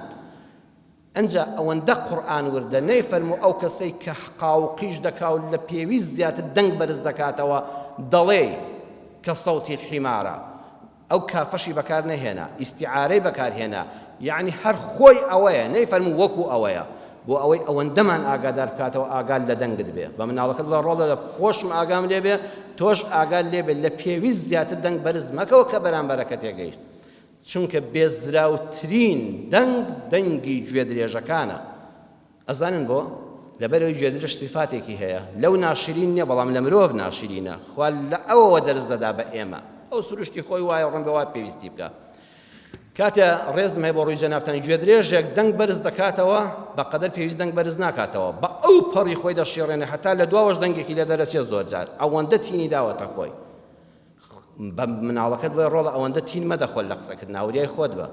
ئنجا ئەوەندە قورئان وردە، نەیفەرموو ئەو کەسەی کە حقا و قیژ دەکا و لە پێویست زیاتر دەنگ بەرز دەکاتەوە، دەڵێی، کە سەوتی الحمارە، ئەو کافەشی بەکارنەهێنا، ئیستیعارەی بەکارهێنا، یەعنی هەر خۆی ئەوەیە، نەیفەرموو وەکوو ئەوەیە، بۆ ئەوەی ئەوەندەمان ئاگادار بکاتەوە ئاگات لە دەنگت بێ بە مناڵەکەت بڵێ ڕۆڵە لە خۆشم ئاگام لێ بێ تۆش ئاگات لێ بێ لە پێویست زیاتر دەنگ بەرز مەکەوە کە بەرامبەرەکە تێگەیشت چونکە بێزراوترین دەنگ دەنگی گوێ درێژەکانە ئەزانن بۆ لەبەرەوەی گوێ درێژ سیفاتێکی هەیە لەو ناشرین نییە بەڵام لە مرۆڤ ناشرینە خوا لە ئەوەوە دەرز دەدا بە ئێمە ئەو سروشتی خۆی وایە ڕەنگە وا پێویستی بکە کاتێ ڕێزم هەیە بۆ ڕووی جەنابتان گوێدرێژێک دەنگ بەرز دەکاتەوە بەقەدەر پێویست دەنگ بەرز ناکاتەوە بە ئەو پەڕی خۆی دەشیڕێنێ هەتا لە دواوەش دەنگێکی لێ دەرەچێت زۆر جار ئەوەندە تینی داوەتە خۆی بە مناڵەکەت بۆی ڕۆڵە ئەوەندە تین مەدە خۆل لە قسەکرد ناوریای خۆت بە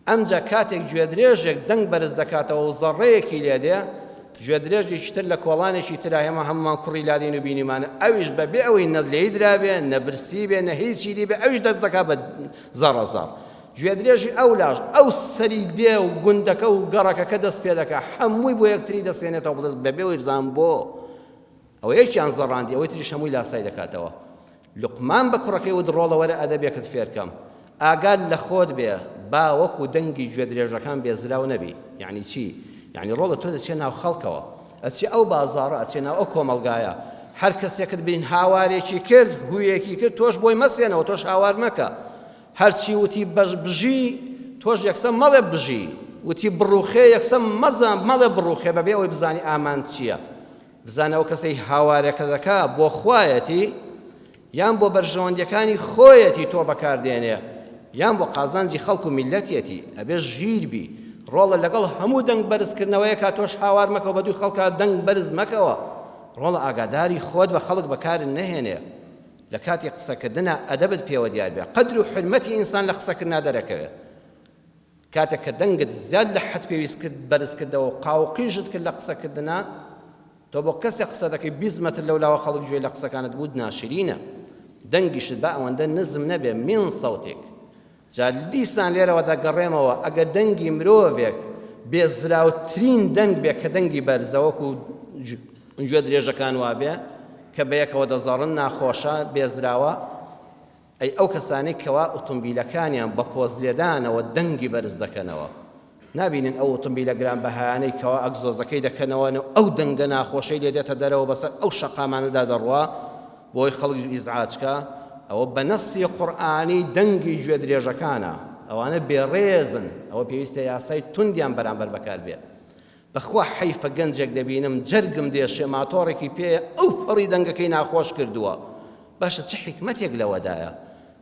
ئەمجا کاتێک گوێدرێژێک دەنگ بەرز دەکاتەوە و زەڕەیەکی لێدێ گوێدرێژێکی تر لە کۆڵانێکی ترە، ئێمە هەموومان کوڕی لادێین و بینیمانە، ئەویش بە بێ ئەوەی نە لێی درابێ، نە برسی بێ، نە هیچی دی بێ، ئەویش دەست دەکا بە زەڕەزەڕ. گوێدرێژی ئەو لاش، ئەو سەری دێ و گوندەکە و گەڕەکەکە دەست پێ دەکا، هەمووی بۆ یەکتری دەستێنێتەوە بە دەست، بە بێ ئەوەی بزانن بۆ؟ ئەوە یەکیان زەڕاندی، ئەوەی تریش هەمووی لاسای دەکاتەوە. لوقمان بە کوڕەکەی وت، ڕۆڵە وەرە ئەدەبێکت فێرکەم. ئاگات لە خۆت بێ، با وەکوو دەنگی گوێدرێژەکان بێزراو نەبی. یەعنی چی؟ یەعنی ڕۆڵە تۆ دەچێ ناو خەڵکەوە. ئەچێ ئەو بازاڕە، ئەچێ ناو ئەو کۆمەڵگایە. هەر کەسێکت بینی هاوارێکی کرد، هوویەکی کرد، تۆش بۆی مەسێنەوە، تۆش هاوار مەکە. هەر چی وتی بژی، تۆش یەکسەر مەڵێ بژی. وتی بڕووخێ، یەکسەر مەزان، مەڵێ بڕووخێ بەبێ ئەوەی بزانی ئامانج چییە. بزانە ئەو کەسەی هاوارەکە دەکا بۆ خوایەتی یان بۆ بەرژەوەندیەکانی خۆیەتی تۆ بەکاردێنێ یان بۆ قازانجی خەڵک و میلەتیەتی ئەبێ ژیر بی ڕۆڵە لەگەڵ هەموو دەنگ بەرزکردنەوەیەکە تۆش هاوار مەکەوە بە دووی خەڵکە دەنگ بەرز مەکەوە ڕۆڵە ئاگاداری خۆت بە خەڵک بەکارن نەهێنێ لە کاتی قسەکردنا ئەدەبت پێوە دیار بێ قەدر و حرمەتی ئینسان لە قسەکردنا دەرەکەوێت کاتێک کە دەنگت زیاد لە حەد پێویست کرد بەرز کردەوە و قاو و قیژت کرد لە قسە کردنا، تۆ بۆ کەسێک قسە دەکەی بیست مەتر لەو لاوە خەڵک گوێ لە قسەکانت بووت ناشرینە، دەنگیشت با ئەوەندە نزم نەبێ من صوتک. جا دیسان لێرەوە دەگەڕێمەوە ئەگەر دەنگی مرۆڤێک بێ زراوترین دەنگ بێ کە دەنگی بەرزە وەکو گوێ درێژەکان وابێ کە بەیەکەوە دەزەڕن ناخۆشە بێزراوە، ئەی ئەو کەسانەی کەوا ئوتومبیلەکانیان بە پۆز لێدانەوە دەنگی بەرز دەکەنەوە نابینن ئەو ئوتومبیلە گران بەهایانەی کەوا ئەگزۆزەکەی دەکەنەوە نەو ئەو دەنگە ناخۆشەی لێ دێتە دەرەوە بەسەر ئەو شەقامانەدا دەڕوا بۆی خەڵک ئیزعاجکە ئەوە بە نەسی قورئانی دەنگی گوێ درێژەکانە ئەوانە بێڕێزن ئەوە پێویستە یاسای توندیان بەرامبەر بەکار بێت بەخوا حەیف گەنجێک دەبینم جەرگم دێشێ ماتۆڕێکی پێیە ئەو پەڕی دەنگەکەی ناخۆش کردووە باشە چ حیکمەتێک لەوەدایە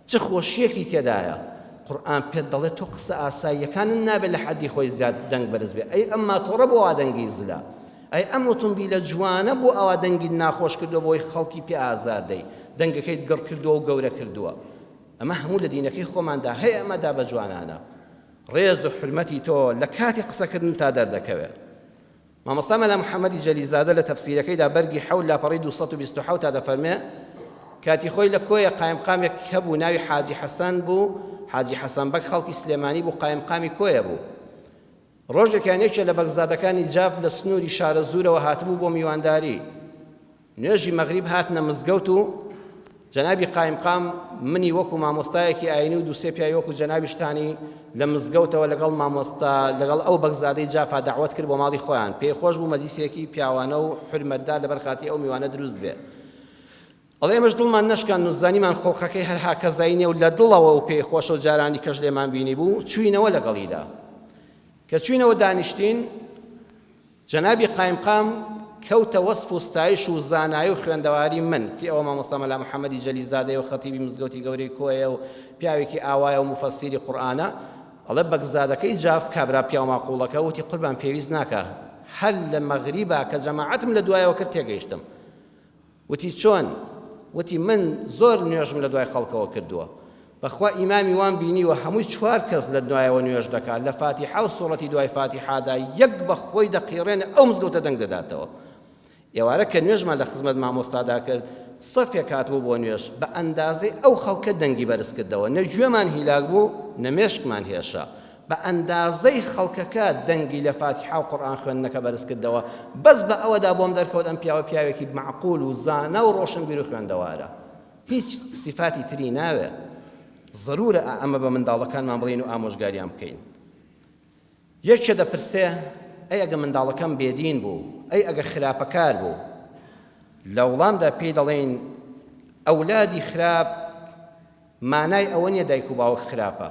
چ خۆشیەکی تێدایە قورئان پێت دەڵێت تۆ قسە ئاساییەکانت نابێت لە حەدی خۆی زیاد دەنگ بەرز بێ ئەی ئەم ماتۆڕە بۆ وا دەنگی زلە ئەی ئەم ئۆتۆمبیلە جوانە بۆ ئەوا دەنگی ناخۆش کردووە بۆی خەڵکی پێ ئازار دەی دەنگەکەیت گڕ کردووە و گەورە کردووە ئەمە هەموو لە دینەکەی خۆماندا هەیە ئەمە دا بە جوانانە ڕێز و حورمەتی تۆ لە کاتی قسەکردنتا دەردەکەوێ. مامۆستا مەلا محەمەدی جەلیلزادە لە تەفسیرەکەیدا بەرگی حەوت لاپەڕەی دوو سەد و بیست و حەوت تا دەفەرمێ کاتی خۆی لە کۆیە قایمقامێک هەبوو ناوی حاجی حەسەن بوو، حاجی حەسەن بەگ خەڵکی سلێمانی بوو قایمقامی کۆیە بوو. ڕۆژێکیان یەکێ لە بەگزادەکانی جاف لە سنووری شارەزوورەوە هاتبوو بۆ میوانداری. نوێژی مەغریب هاتنە مزگەوت و جەنابی قایمقام منی وەکو مامۆستایەکی ئاینی و دوو سێ پیاوی وەکو جەنابیشتانی لە مزگەوتەوە لەگەڵ مامۆستا لەگەڵ ئەو بەگزادەی جافا دەعوەت کرد بۆ ماڵی خۆیان پێی خۆش بوو مەجلیسێکی پیاوانە و حورمەتدار لەبەر خاتری ئەو میوانە دروست بێ ئەڵێ ئێمەش دڵمان نەشکان و زانیمان خۆڵقەکەی هەرها کەزای نێو لە دڵەوە و پێی خۆشە و جارانی کەش لێمان بینی بوو چوینەوە لەگەڵیدا کە چوینەوە دانیشتین جەنابی قایمقام کەوتە وەسف و ستایش و زانایی و خوێندەواری من، کەی ئەوە مامۆستا مەلا محەمەدی جەلیزادەیە و خەتیبی مزگەوتی گەورەی کۆیەیە و پیاوێکی ئاوایە و موفەسیری قورئانە، ئەڵێ بەگزادەکەی جاف، کابرا پیاوماقوڵەکە، وتی قوربان پێویست ناکا، هەر لە مەغریبا کە جەماعەتم لە دوایەوە کرد تێگەیشتم. وتی چۆن؟ وتی من زۆر نوێژم لە دوای خەڵکەوە کردووە بەخوا ئیمامی وام بینیوە هەمووی چوار کەس لە دوایەوە نوێژ دەکات لە فاتیحا و سوڕەتی دوای فاتیحادا یەک بە خۆی دەقیڕێنێ ئەو مزگەوتە دەنگ دەداتەوە ئێوارە کە نوێژمان لە خزمەت مامۆستادا کرد سەفێک هاتبوو بۆ نوێژ بە ئەندازەی ئەو خەڵکە دەنگی بەرز کردەوە نە گوێمان هیلاک بوو نە مێشکمان هێشە بە ئەندازەی خەڵکەکە دەنگی لە فاتیحا و قورئان خوێندنەکە بەرز کردەوە، بەس بە ئەوەدا بۆم دەرکەوت ئەم پیاوە پیاوێکی مەعقول و زانا و ڕۆشنبیر و خوێندەوارە. هیچ سیفاتی تری ناوێ. زەروورە ئا ئەمە بە منداڵەکانمان بڵێین و ئامۆژگاریان بکەین. یەکێ دەپرسێ، ئەی ئەگە منداڵەکەم بێدین بوو؟ ئەی ئەگە خراپەکار بوو؟ لە وڵامدا پێی دەڵێین، ئەولادی خراپ مانای ئەوە نیە دایک و باوک خراپە،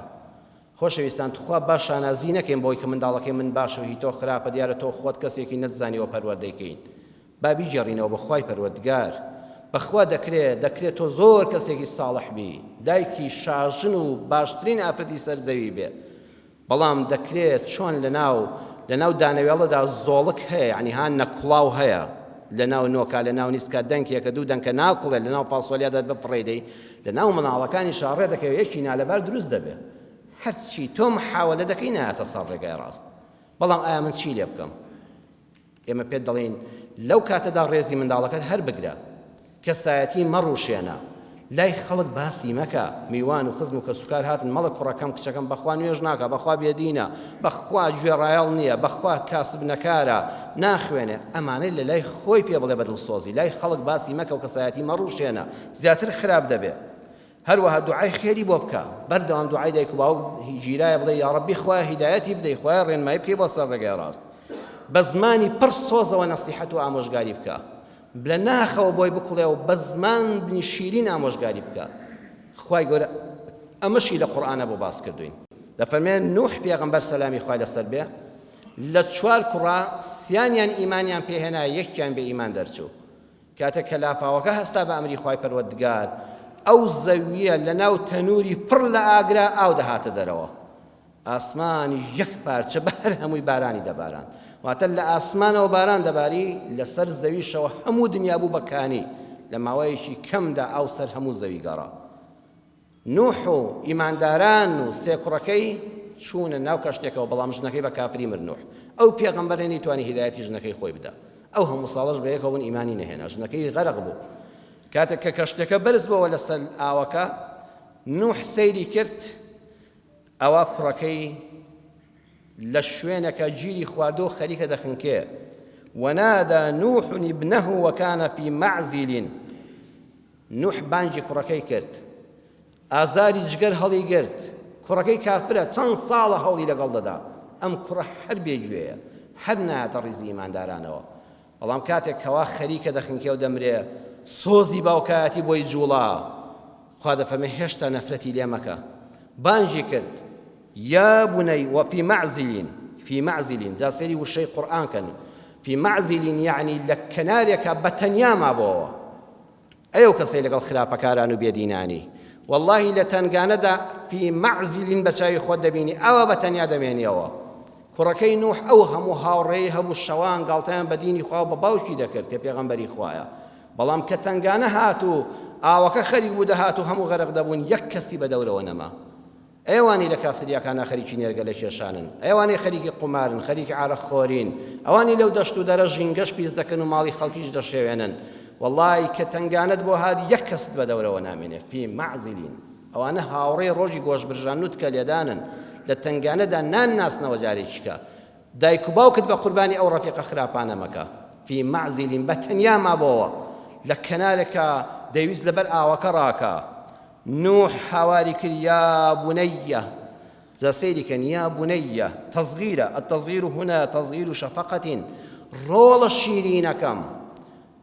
خۆشەویستان توخوا با شانازی نەکەین بەوەی کە منداڵەکەی من باشە و هی تۆ خراپە دیارە تۆ خۆت کەسێکی نەتزانیوە پەروەردەی کەین با بیگێڕینەوە بۆ خوای پەروەردگار بەخوا دەکرێ دەکرێ تۆ زۆر کەسێکی ساڵح بی دایکی شاژن و باشترین ئافرەتی سەر زەوی بێ بەڵام دەکرێ چۆن لەناو لەناو دانەوێڵەدا زۆڵک هەیە یعنی ها نەکوڵاو هەیە لەناو نۆکا لەناو نیسکا دەنکێکە دوو دەنکە ناکوڵێ لەناو فاسۆلیادا بفڕێدەی لە ناو مناڵەکانیشا ڕێ دەکەوێ یەکی نالەبار دروست دەبێ. هەرچی تۆ محاولە دەکەی نایەتە سەر ڕێگای ڕاست. بەڵام ئایا من چی لێ بکەم؟ ئێمە پێت دەڵێین لەو کاتەدا ڕێزی منداڵەکەت هەر بگرە. کەسایەتی مەڕوشێنە. لای خەڵک باسی مەکە. میوان و خزم و کەسوکار هاتن مەڵێ کوڕەکەم کچەکەم بە خوا نوێژ ناکا، بە خوا بێدینە، بە خوا گوێڕایەڵ نییە، بە خوا کاسب نەکارە، ناخوێنێ. ئەمانەی لە لای خۆی پێ بڵێ بە دڵسۆزی. لای خەڵک باسی مەکە و کەسایەتی مەڕوشێنە. زیاتر خراپ دەبێ هەروەها دوعای خێری بۆ بکە بەردەوام دوعای دایک و باوک گیرایە بڵێ یاڕەبی خوایە هیدایەتی بدەی خوایە ڕێنمایی بکەی بۆ سەر ڕێگای ڕاست بە زمانی پڕ سۆزەوە نەسیحەت و ئامۆژگاری بکە لە ناخەوە بۆی بکڵێ و بە زمان بنی شیرین ئامۆژگاری بکە خوای گەورە ئەمەشی لە قورآانە بۆ باس کردوین دەفەرمێ نوح پێغمبەر سەلامی خوای لەسەر بێ لە چوار کوڕا سیانیان ئیمانیان پێهێنا یەکیان بێ ئیمان دەرچوو کاتێک کە لافاوەکە هەستا بە ئەمری خوای پەروەردگار، ئەو زەوییە لە ناو تەنووری پڕ لە ئاگرا ئاو دەهاتە دەرەوە، ئاسمانیش یەک پارچە بە هەر هەمووی بارانی دەباراند. واتە لە ئاسمانەوە باران دەباری، لە سەر زەویشەوە هەموو دنیا بوو بە کانی، لە ماوەیەکی کەمدا ئاو سەر هەموو زەوی گەڕا. نوح و ئیمانداران و سێ کوڕەکەی چوونە ناو کەشتێکەوە بەڵام ژنەکەی بە کافری مرد نوح ئەو پێغەمبەرە نەیتوانی هیدایەتی ژنەکەی خۆی بدا ئەو هەموو ساڵەش بە یەکەوە بوون ئیمانی نەهێنا ژنەکەی غەرق بوو کاتێک کە کەشتەکە بەرز بۆەوە لەسەر ئاوەکە نوح سەیری کرد ئەوە کوڕەکەی لە شوێنەکە گیری خواردۆ خەریکە دەخنکێ ونادى نوح ابنه وكان في معزل نوح بانگی کوڕەکەی کرد ئازاری جگەر هەڵی گرت کوڕەکەی کافرە چەند ساڵە هەوڵی لەگەڵ دەدا ئەم کوڕە هەر بێ گوێیە هەر نایەتە ڕیزی ئیماندارانەوە بەڵام کاتێک کەوا خەریکە دەخنکێ و دەمرێ سۆزی باوکایەتی بۆی جوڵا خوا دەفەرمێ هێشتا نەفرەتی لێ مەکە بانگی کرد یا بنەی وەفی مەعزیلین فی مەعزیلین جا سەیری وشەی قورئان کەن فی مەعزیلین یعنی لە کەنارێکە بەتەنیا مابەوە ئەی ئەو کەسەی لەگەڵ خراپەکاران و بێدینانی وەڵڵاهی لە تەنگانەدا فی مەعزیلین بە چاوی خۆت دەبینی ئەوە بە تەنیا دەمێنیەوە کوڕەکەی نوح ئەو هەموو هاوڕێی هەبوو شەوان گاڵتەیان بە دینی خوا و بە باوکی دەکرد کە پێغەمبەری خوایە بەڵام کە تەنگانە هات و ئاوەکە خەریک بوو دەهات و هەموو غەرق دەبوون یەک کەسی بە دەورەوە نەما ئەوانەی لە کافتریاکانا خەریکی نێرگەلە کێشانن، ئەوانەی خەریکی قومارن، خەریکی عارەق خۆرین، ئەوانەی لەو دەشت و دەرە ژینگەش پیس دەکەن و ماڵی خەڵکیش دەشێوێنن، وەڵا ی کە تەنگانەت بۆ هات یەک کەست بە دەورەوە نامێنێ، فی معزلین، ئەوانە هاوڕێی ڕۆژی گۆشت برژاندن و تکە لێدانن، لە تەنگانەدا نان ناسنەوە جارێکیکە دایک و باوکت بە قوربانی ئەو ڕەفیقە خراپانە مەکە، فی معزلین، بە تەنیا مابۆوە لە کەنارێکا دەیویست لە بەر ئاوەکە ڕاکا نوح هاواری کرد یا بنیە جا سەیری کەن یا بنیە تەزغیرە التەزغیر هنا تەزغیر شەفەقە ڕۆڵە شیرینەکەم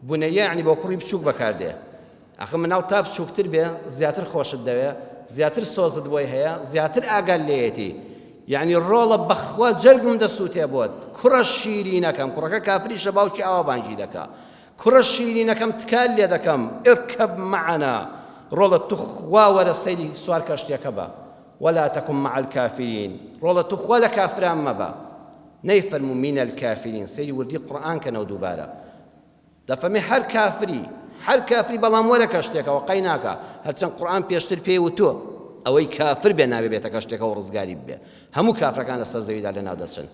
بنیە یعنی بۆ کوڕی بچووک بەکاردێ ئەخە مناڵ تا بچووکتر بێ زیاتر خۆشت دەوێ زیاتر سۆزت بۆی هەیە زیاتر ئاگال لێیەتی یعنی ڕۆڵە بەخوا جەرگم دەسووتێ بۆت کوڕە شیرینەکەم کوڕەکە کافریشە باوکی ئاوا بانگی دەکا کوڕە شیرینەکەم تکال لێدەکەم ارکب معنا ڕۆڵە توخوا وەرە سەیری سوار کەشتیەکە بە ولا تکن مع الکافرین ڕۆڵە توخوا لە کافران مەبە نەیفەرموو من الکافرین سەیری وردی قورئان کەنەوە دووبارە دەفەرمی هەر کافری هەر کافری بەڵام وەرە کەشتێکەوە قەی ناکە هەرچەند قورئان پێشتر پێی وتووە ئەوەی کافر بێ ناوێ بێتە کەشتێکەوە ڕزگاری بێ هەموو کافرەکان لەسەر زەویدا لەناو دەچن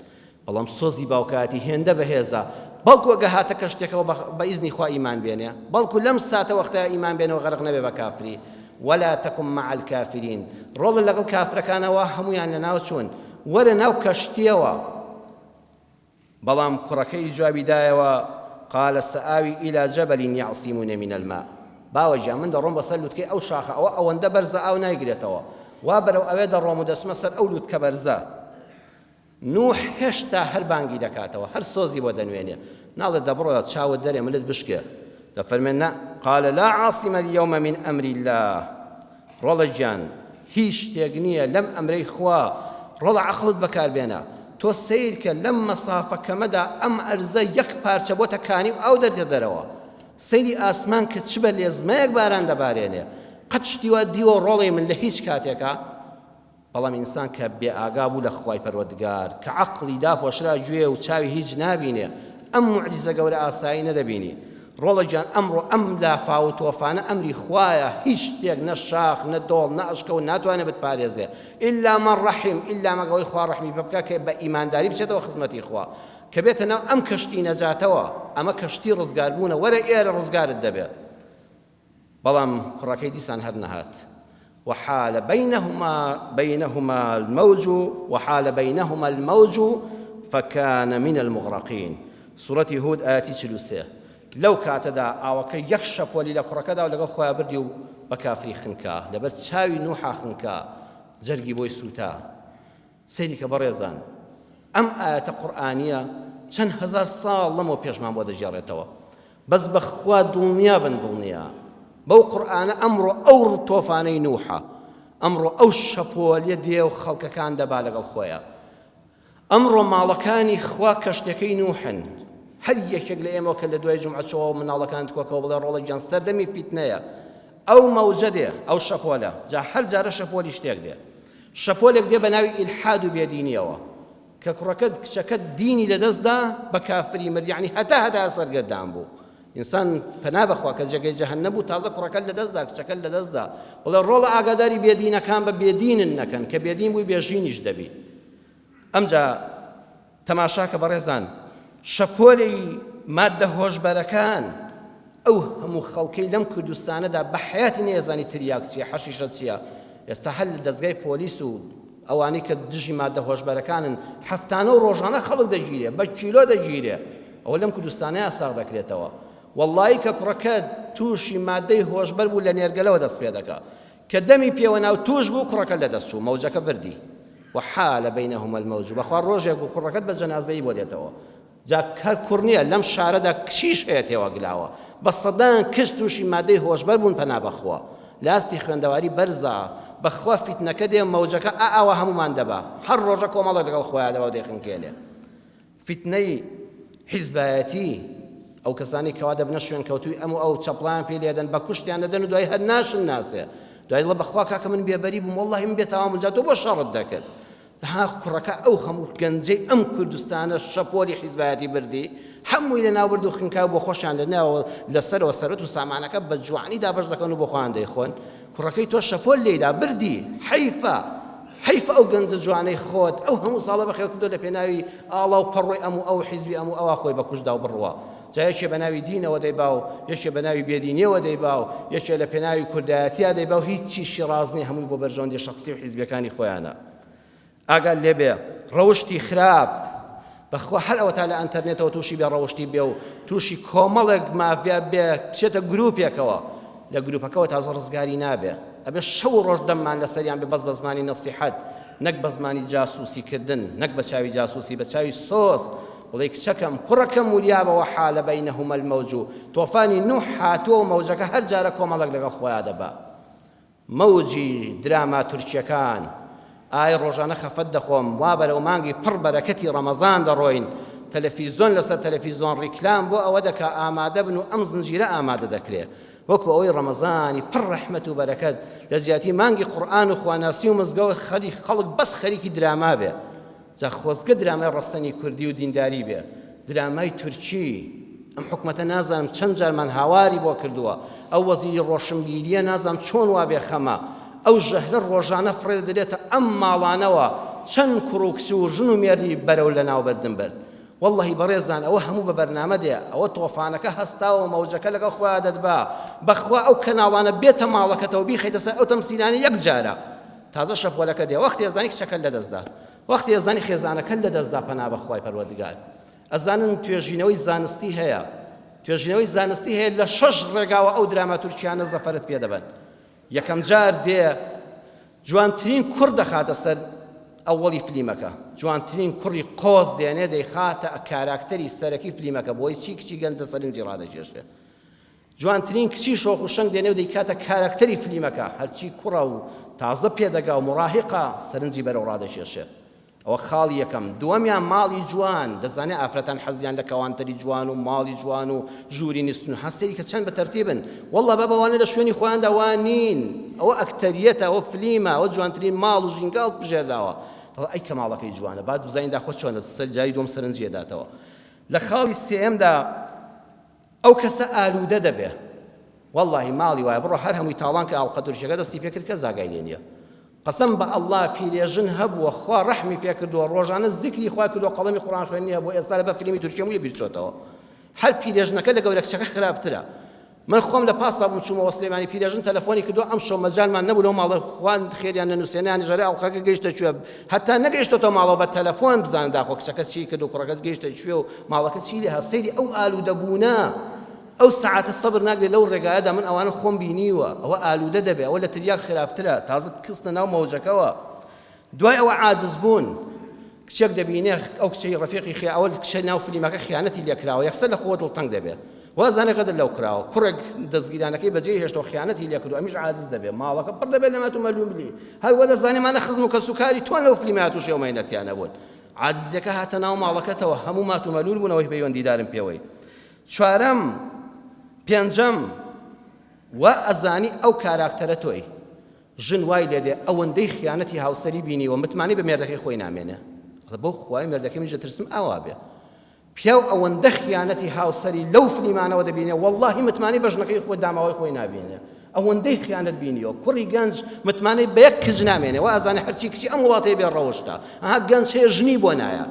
بەڵام سۆزی باوکایەتی هێندە بەهێزە، بەڵکو ئەگە هاتە کەشتێکەوە بە بە ئیزنی خوا ئیمان بێنێ، بەڵکو لەم ساتە وەختایە ئیمان بێنەوە غەرق نەبێ بە کافری، ولا تکن مع الکافرین، ڕۆڵە لەگەڵ کافرەکانەوە هەموویان لەناو چوون، وەرە ناو کەشتیەوە، بەڵام کوڕەکەی جوابی دایەوە، قال سآوی الی جبل یعصمونی من الماء، باوە گیان من دەڕۆم بەسەر لوتکەی ئەو شاخە ئەوە ئەوەندە بەرزە ئاو نایگرێتەوە، وا بەرەو ئەوێ دەڕۆم و دەچمە سەر ئەو لوتکە بەرزە. نوح هێشتا هەر بانگی دەکاتەوە، هەر سۆزی بۆ دەنوێنێ، ناڵێ دە بڕۆ چاوت دەرێ ملت بشکێ، دەفەرمێ نا، قال لا عاصم اليوم من امر اللە، ڕۆڵە گیان هیچ شتێک نییە لەم ئەمرەی خوا، ڕۆڵە عەقڵت بەکار بێنە، تۆ سەیر کە لەم مەسافە کەمەدا ئەم ئەرزە یەک پارچە بۆتە کانی و ئاو دەدێ دەرەوە، سەیری ئاسمان کە چ بە لێزمەیەک باران دەبارێنێ، قەت شتی وا دیوە ڕۆڵەی من لە هیچ کاتێکا؟ بەڵام ئینسان کە بێ ئاگا بوو لە خوای پەروەردگار، کە عەقڵی داپۆشرا گوێ و چاوی هیچ نابینێ، ئەم موعجیزە گەورە ئاسایی نەدەبینی. ڕۆڵە گیان ئەمڕۆ ئەم لافاو و تۆفانە ئەمری خوایە، هیچ شتێک نە شاخ، نە دۆڵ، نە ئەشکەو ناتوانێ بتپارێزێ، ئیلا من رحم، ئیلا مەگە ئەوەی خوا ڕەحمی پێ بکا کە بە ئیمانداری بچێتەوە خزمەتی خوا، کە بێتە ناو ئەم کەشتی نەجاتەوە، ئەمە کەشتی ڕزگاربوونە، وەرە ئێرە ڕزگارت دەبێ. بەڵام کوڕەکەی دیسان هەر نەهات. وحال بینهما بینهما الموج وحال بینهما الموج فکان من المغرقین سورەتی هود ئایەتی چل و سێ لەو کاتەدا ئاوەکە یەک شەپۆلی لە کوڕەکەدا و لەگەڵ خۆیان بردی و بە کافری خنکا لەبەر چاوی نوحا خنکا جەرگی بۆی سووتا سەیریکە بەڕێزان ئەم ئایەتە قورئانیە چەند هەزار ساڵ لەمەو پێشمان بۆ دەگێڕێتەوە بەس بەخوا دڵنیابن دڵنیا بەو قورئانە ئەمڕۆ ئەو ڕتۆفانەی نوحە ئەمڕۆ ئەو شەپۆلیە دێ و خەڵکەکان دەبا لەگەڵ خۆیە ئەمڕۆ ماڵەکانی خوا کەشتەکەی نوحن هەر یەکێک لە ئێمە کە لە دوای جمعەچەوە مناڵەکان کۆکەوە بڵێ ڕۆڵە گیان سەردەمی فیتنەیە ئەو مەوجە دێ ئەو شەپۆلە جا هەر جارە شەپۆلی شتێک دێ شەپۆلێک دێ بە ناوی ئیلحاد و بێدینیەوە کە کوڕەکەت کچەکەت دینی لە دەست دا بە کافری مرد یعنی هەتا هەتا سەرگەردان بوو ئینسان پەنا بەخوا کە جێگەی جەهەن نەبوو تازە کوڕەکەت لە دەستدا کچەکەت لە دەستدا بڵێ ڕۆڵە ئاگاداری بێدینەکان بە بێدینن نەکەن کە بێدین بووی بێژینیش دەبی ئەمجا تەماشاکە بەڕێزان شەپۆلەی ماددە هۆشبەرەکان ئەو هەموو خەڵکەی لەم کوردستانەدا بە حیاتی نێزانی تریاک چیە حەشیشە چیە ئێستا هەر لە دەستگای پۆلیس و ئەوانەی کە دژی مادە هۆشبەرەکانن هەفتانە و ڕۆژانە خەڵک دەگیرێ بە کیلۆ دەگیرێ ئەوە لەم کوردستانە یاساغ دەکرێتەوە وەڵی کە کوڕەکە تووشی مادەی هۆشبەر بوو لە نێرگەلەوە دەست پێ دەکە کە دەمی پێوە ناو تووش بوو کوڕەکە لەدەست چوو مەوجەکە بردی وحال بینهما الموج بەخوا ڕۆژێک بوو کوڕەکەت بە جەنازەی بۆ دێتەوە جا هەر کوڕ نییە لەم شارەدا کچیش هەیە تێوەگلاوە بە سەدان کچ تووشی مادەی هۆشبەر بوون پەنا بەخوا لاستی خوێندەواری بەرزە بەخوا فیتنەکە دێ مەوجەکە ئا ئاوا هەموومان دەبا هەر ڕۆژە کۆمەڵێک لەگەڵ خۆیان دەبا و دەیخنکێنێ فیتنەی حیزبایەتی، ئەو کەسانەی کەوا دەبنە شوێنکەوتووی ئەم و ئەو، چەپڵەیان پێ لێدەن، بە کوشتیان دەدەن و دوایی هەر ناشنناسێ، دوایی دەڵێ بەخوا کاکە من بێبەری بووم، وەڵڵاهی من بێتاوان بووم، جا تۆ بۆ شەڕت دەکرد؟ ئاخ کوڕەکە ئەو هەموو گەنجەی ئەم کوردستانە شەپۆلی حیزبایەتی بردی، هەمووی لەناوبرد و خنکا و بۆخۆشیان لەناوەوە لەسەرەوە سەروەت و سامانەکە بە جوانی دابەش دەکەن و بۆخۆیان دەیخۆن، کوڕەکەی تۆ شەپۆل لێی لا بردی حەیفە حەیف ئەو گەنجە جوانەی خۆت ئەو هەموو ساڵە بەخێو کردو لە پێناوی ئاڵا و پەڕۆی ئەم و ئەو حیزبی ئەم و ئەوە خۆی بەکوشدا و بڕوە جایەکێ بە ناوی دینەوە دەیبا و یەکێ بە ناوی بێدینیەوە دەیبا و یەکێ لە پێناوی کوردایەتیا دەیبا و هیچ چیشی ڕازنی هەمووی بۆ بەرژەوەندی شخصی و حیزبەکانی خۆیانە ئاگات لێ بێ ڕەوشتی خراپ بەخوا هەر ئەوەتا لە ئەنتەرنێتەوە تووشی بێ ڕەوشتی بێ و تووشی کۆمەڵێک مافیا بێ بچێتە گروپێکەوە لە گروپەکەەوە تازە ڕزگاری نابێ ئەبێ شەو و ڕۆژ دەممان لەسەریان بێ بەس بە زمانی نەسیحەت نەک بە زمانی جاسوسی کردن نەک بە چاوی جاسوسی بە چاوی سۆز بڵێ کچەکەم کوڕەکەم وریابەوە حالە بینە هەمەل مەوج و تۆفانی نوح هاتووە و مەوجەکە هەر جارە کۆمەڵک لەگەڵ خۆیان دەبا مەوجی دراما تورکیەکان. ئای ڕۆژانە خەفەت دەخۆم وا بەرەو مانگی پڕ بەرەکەتی ڕەمەزان دەڕۆین تەلەفیزۆن لەسەر تەلەفیزۆن ڕیکلام بۆ ئەوە دەکا ئامادە بن و ئەم زنجیرە ئامادە دەکرێ وەکو ئەوەی ڕەمەزانی پڕ ڕەحمەت و بەرەکەت لە جیاتی مانگی قورئان و خواناسی و مزگەوت خەریک خەڵک بەس خەریکی دراما بێ جا خۆزگە درامای ڕەسەنی کوردی و دینداری بێ درامای تورکی ئەم حکومەتە نازانم چەند جارمان هاواری بۆ کردووە ئەو وەزیری ڕۆشنبیریە نازانم چۆن وا بێ خەمە ئەو ژەهرە ڕۆژانە فڕێ دەدرێتە ئەم ماڵانەوە چەند کوڕ و کچ و ژن و مێردی بەرەو لەناو بردن برد واللهی بەڕێزان ئەوە هەموو بە بەرنامە دێ ئەوە تۆفانەکە هەستاوە مەوجەکە لەگەڵ خۆیا دەدبا بەخوا ئەو کەناڵانە بێتە ماڵەکەتەوە بیخەیتە سەر ئەو تەمسیلانە یەک جارە تازە شەپۆلەکە دێ وەختێ ئەزانی کچەکەت لەدەستدا وەختێ ئەزانی خێزانەکەت لەدەستدا پەنا بەخوای پەروەردگار ئەزانن توێژینەوەی زانستی هەیە توێژینەوەی زانستی هەیە لە شەش ڕێگاوە ئەو دراما تورکیانە زەفەرت پێ دەبەن یەکەم جار دێ جوانترین کوڕ دەخاتە سەر ئەوەڵی فلیمەکە جوانترین کوڕی قۆز دێنێ دەیخاتە کاراکتەری سەرەکی فلیمەکە بۆی چی کچی گەنجە سەرنجی ڕادەکێشێ جوانترین کچی شۆخ و شەنگ دێنێ و دەیکاتە کاراکتەری فلیمەکە، هەرچی کوڕە و تازە پێدەگا و موڕاهیقە سەرنجی بەرەو ڕادەکێشێت. ئەوە خاڵی یەکەم. دووەمیان ماڵی جوان، دەزانێ ئافرەتان حەزیان لە کەوانتەری جوان و ماڵی جوان و ژووری نستن، ها سەیریکە چەند بە تەرتیبن، وەڵڵا با بەوانە لە شوێنی خۆیاندا وا نین، ئەوە ئەکتەریەتە، ئەوە فلیمە، ئەوە جوانترین ماڵ و ژینگە هەڵپژێرداوە، دەڵێ ئەی کە ماڵەکەی جوانە با بزانین داخۆ چۆنە، جاری دووەم سەرنجی ئەداتەوە. لە خاڵی سێیەمدا، ئەو کەسە ئالودە دەبێ. وەڵاهی ماڵی وایە بڕۆ هەر هەمووی تاڵان کە ئاڵقە تورکیەکە دەستی پێکرد کەس ئاگای لێ نیە قەسەم بە ئەڵا پیرێژن هەبووە خوا ڕەحمی پێکردووە ڕۆژانە زیکری خوای کردووە قەڵەمی قوڕان خوێنی هەبووە ئێستا لەبەر فلیمی تورکیە مووی بیرچۆتەوە هەر پیرێژنەکە لە گەورە کچەکە خراپترە من خۆم لە پاسا بووم چوومەوە سلێمانی پیرێژن تەلەفۆنی کردو ئەمشەو مەجالمان نەبوو لەو ماڵە خوان خێریان نەنووسێنیان ژەرە ئەڵقەکە گەیشتە کوێ هەتا نەگەیشتۆتە ماڵەوە بە تەلەفۆن بزانە داخۆ کچەکەت چی کرد و کوڕەکەت گەیشتە کوێ و ماڵەکە چی لێ هات سەیری ئەو ئالوودە بوونە ئەو سەعاتە سەبر ناگرێت لەو ڕێگایەدا من ئەوانە خۆم بینیوە ئەوە ئالوودە دەبێ ئەوە لە تریاک خراپترە تازە کستە ناو مەوجەکەوە دوای ئەوە عاجز بوون کچێک دەبینێ ئەو کچەی ڕەفیقی خیا ئەوە کچە ناو فلیمەکە خیانەتی لێکراوە یەکسەر لە خۆ دڵتەنگ دەبێت وازانێ غەدر لەو کراوە کوڕێک دەزگیرانەکەی بەجێی هێشتەوە خیانەتی لێکردو ئەمیش عاجز دەبێ ماڵەکە پڕ دەبێ لەمەت و مەلوملی هەر وەدەزانێ مانە خزم و کەسوکاری تۆن لەو فلیمەیا تووشی ئەو مەینەتیانە بوون عاجزیەکە هاتە ناو ماڵەکەتەوە هەموو مات و مەلول بوون ئەوەی پەیوەندیدارن پێوەی چوارەم پێنجەم وا ئەزانی ئەو کاراکتەرە تۆی ژن وای لێ دێ ئەوەندەی خیانەتی هاوسەری بینیوە متمانی بە مێردەکەی خۆی نامێنێ بۆ خوای مێردەکەی منیش دەترسم ئاوا بێ پیاو ئەوەندە خیانەتی هاوسەری لەو فلیمانەوە دەبینێ وەڵاهی متمانەی بە ژنەکەی خۆی داماوەی خۆی نابینێ ئەوەندەی خیانەت بینیەوە کوڕی گەنج متمانەی بە یەک کچ نامێنێ و ئازانە هەرچی کچی ئەم وڵاتەی بێ ڕەوشتە ئەها گەنج هەیە ژنی بۆ نایە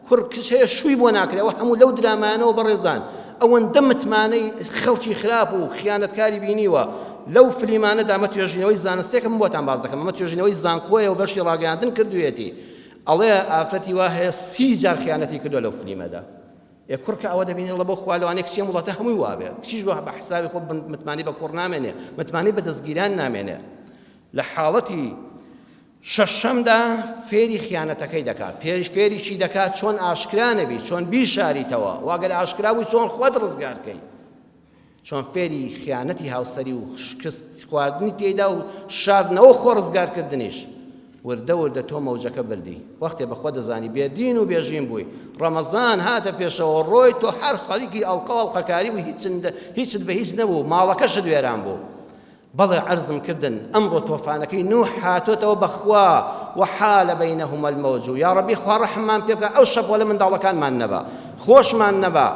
کوڕ کچ هەیە شووی بۆ ناکرێ و هەموو لەو درامایانەوە بەڕێزان ئەوەندە متمانەی خەڵکی خراپ و خیانەتکاری بینیوە لەو فلیمانەدا مە توێژینەوەی زانستێکم بۆتان باز دەکەم ئەمە توێژینەوەی زانکۆیە و بەشی ڕاگەیاندن کردوێتی ئەڵێ ئافرەتی وا هەیە سی جار خیانەتی کردوە لەو فلیمەدا ئێ کوڕ کە ئەوە دەبینی اللە بۆ خوا لەوانەیە کچی ئەم وڵاتە هەمووی وا بێ کچیش بە بە حسابی خۆ متمانەی بە کوڕ نامێنێ متمانەی بە دەستگیران نامێنێ لە حاڵەتی شەشەمدا فێری خیانەتەکەی دەکات پێش فێریشی دەکات چۆن ئاشکرا نەبی چۆن بیشاریتەوە واگەر ئاشکرا بووی چۆن خۆت ڕزگارکەی چۆن فێری خیانەتی هاوسەری و شکست خواردنی تێیدا و شاردنەوە و خۆ ڕزگار کردنیش. وردە وردە تۆ مەوجەکە بردی. وەختێ بە خۆت دەزانی بێ دین و بێ ژین بووی. ڕەمەزان هاتە پێشەوە ڕۆی تۆ هەر خەریکی ئەڵقە و ئەڵقەکاری بووی هیچت بە هیچ نەبوو ماڵەکەشت وێران بوو. بەڵێ عەرزم کردن ئەمڕۆ تۆفانەکەی نوح هاتۆتەوە بەخوا وحال بینهما الموج یاڕەبی خوا ڕەحممان پێ بکا ئەو شەپۆلە منداڵەکانمان نەبا خۆشمان نەبا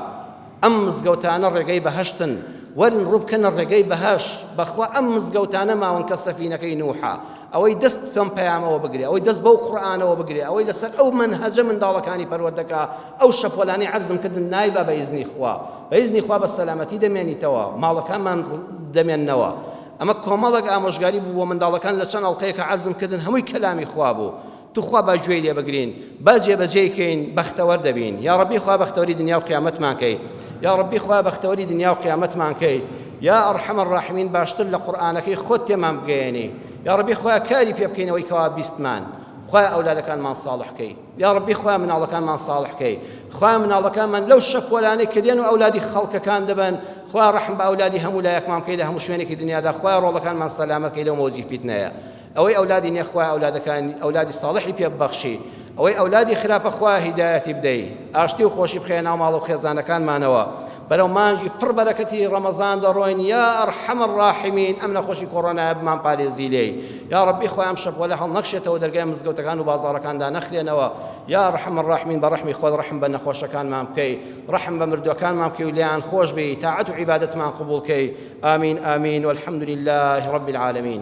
ئەم مزگەوتانە ڕێگەی بەهەشتن وەرن ڕووبکەنە ڕێگەی بەهەش بەخوا ئەم مزگەوتانە ماون کە سەفینەکەی نوحە ئەوەی دەست پێم پەیامەوە بگرێ ئەوەی دەست بەو قورآانەوە بگرێ ئەوەی لەسەر ئەو منهەجە منداڵەکانی پەروەردەکە ئەو شەپۆلانەی عەرزم کردن نایبا بە ئیزنی خوا بە ئیزنی خوا بە سەلامەتی دەمێنیتەوە ماڵەکانمان دەمێننەوە ئەمە کۆمەڵێک ئامۆژگاری بوو بۆ منداڵەکان لە چەند ئەڵقەیە کە عەرزم کردن هەمووی کەلامی خوا بوو توخوا با گوێی لێ بگرین با جێبەجێیکەین بەختەوەر دەبین یا ڕەبی خوا بەختەوەری دنیا و قیامەتمان کەی یا ڕەبی خوا بەختەوەری دنیا و قیامەتمان کەی یا ئەڕحەمە ڕاحمین باشتر لە قورآانەکەی خۆت تێمان بگەێنی یا ڕەبی خوا کاری پێ بکەینەوەی کەوا بیستمان خوا ئەولادەکانمان ساڵحکەی یاڕەبی خوایە مناڵەکانمان ساڵح کەی خوایە مناڵەکانمان لەو شەپۆلانەی کە دێن و ئەولادی خەڵکەکان دەبن خوایە ڕەحم بە ئەولادی هەموو لایەکمان بکەی لە هەموو شوێنێکی دنیادا خوایە ڕۆڵەکانمان سەلامەت کەی لەو مەوجی فیتنەیە ئەوەی ئەولادی نیە خوایە ئەولادەکان ئەولادی ساڵحی پێ ببەخشی ئەوەی ئەولادی خراپە خوایە هیدایەتی بدەی ئاشتی و خۆشی بخەیە ناو ماڵە و خێزانەکانمانەوە بەرەو مانگی پڕ بەرەکەتی ڕەمەزان دەڕۆین یا ارحم الراحمین ئەم نەخۆشی کۆڕۆنایە بمان پارێزی لێی یا ڕەبی خوای ئەم شەپۆلە هەڵنەکشێتەوە دەرگای مزگەوتەکان و بازاڕەکان دانەخرێنەوە یا ارحم الراحمین بە ڕەحمی خۆت ڕەحم بە نەخۆشەکانمان بکەی ڕەحم بە مردوەکانمان بکەی و لێیان خۆش بی تاعەت و عیبادەتمان قبوڵ کەی آمین آمین والحمد لله رب العالمین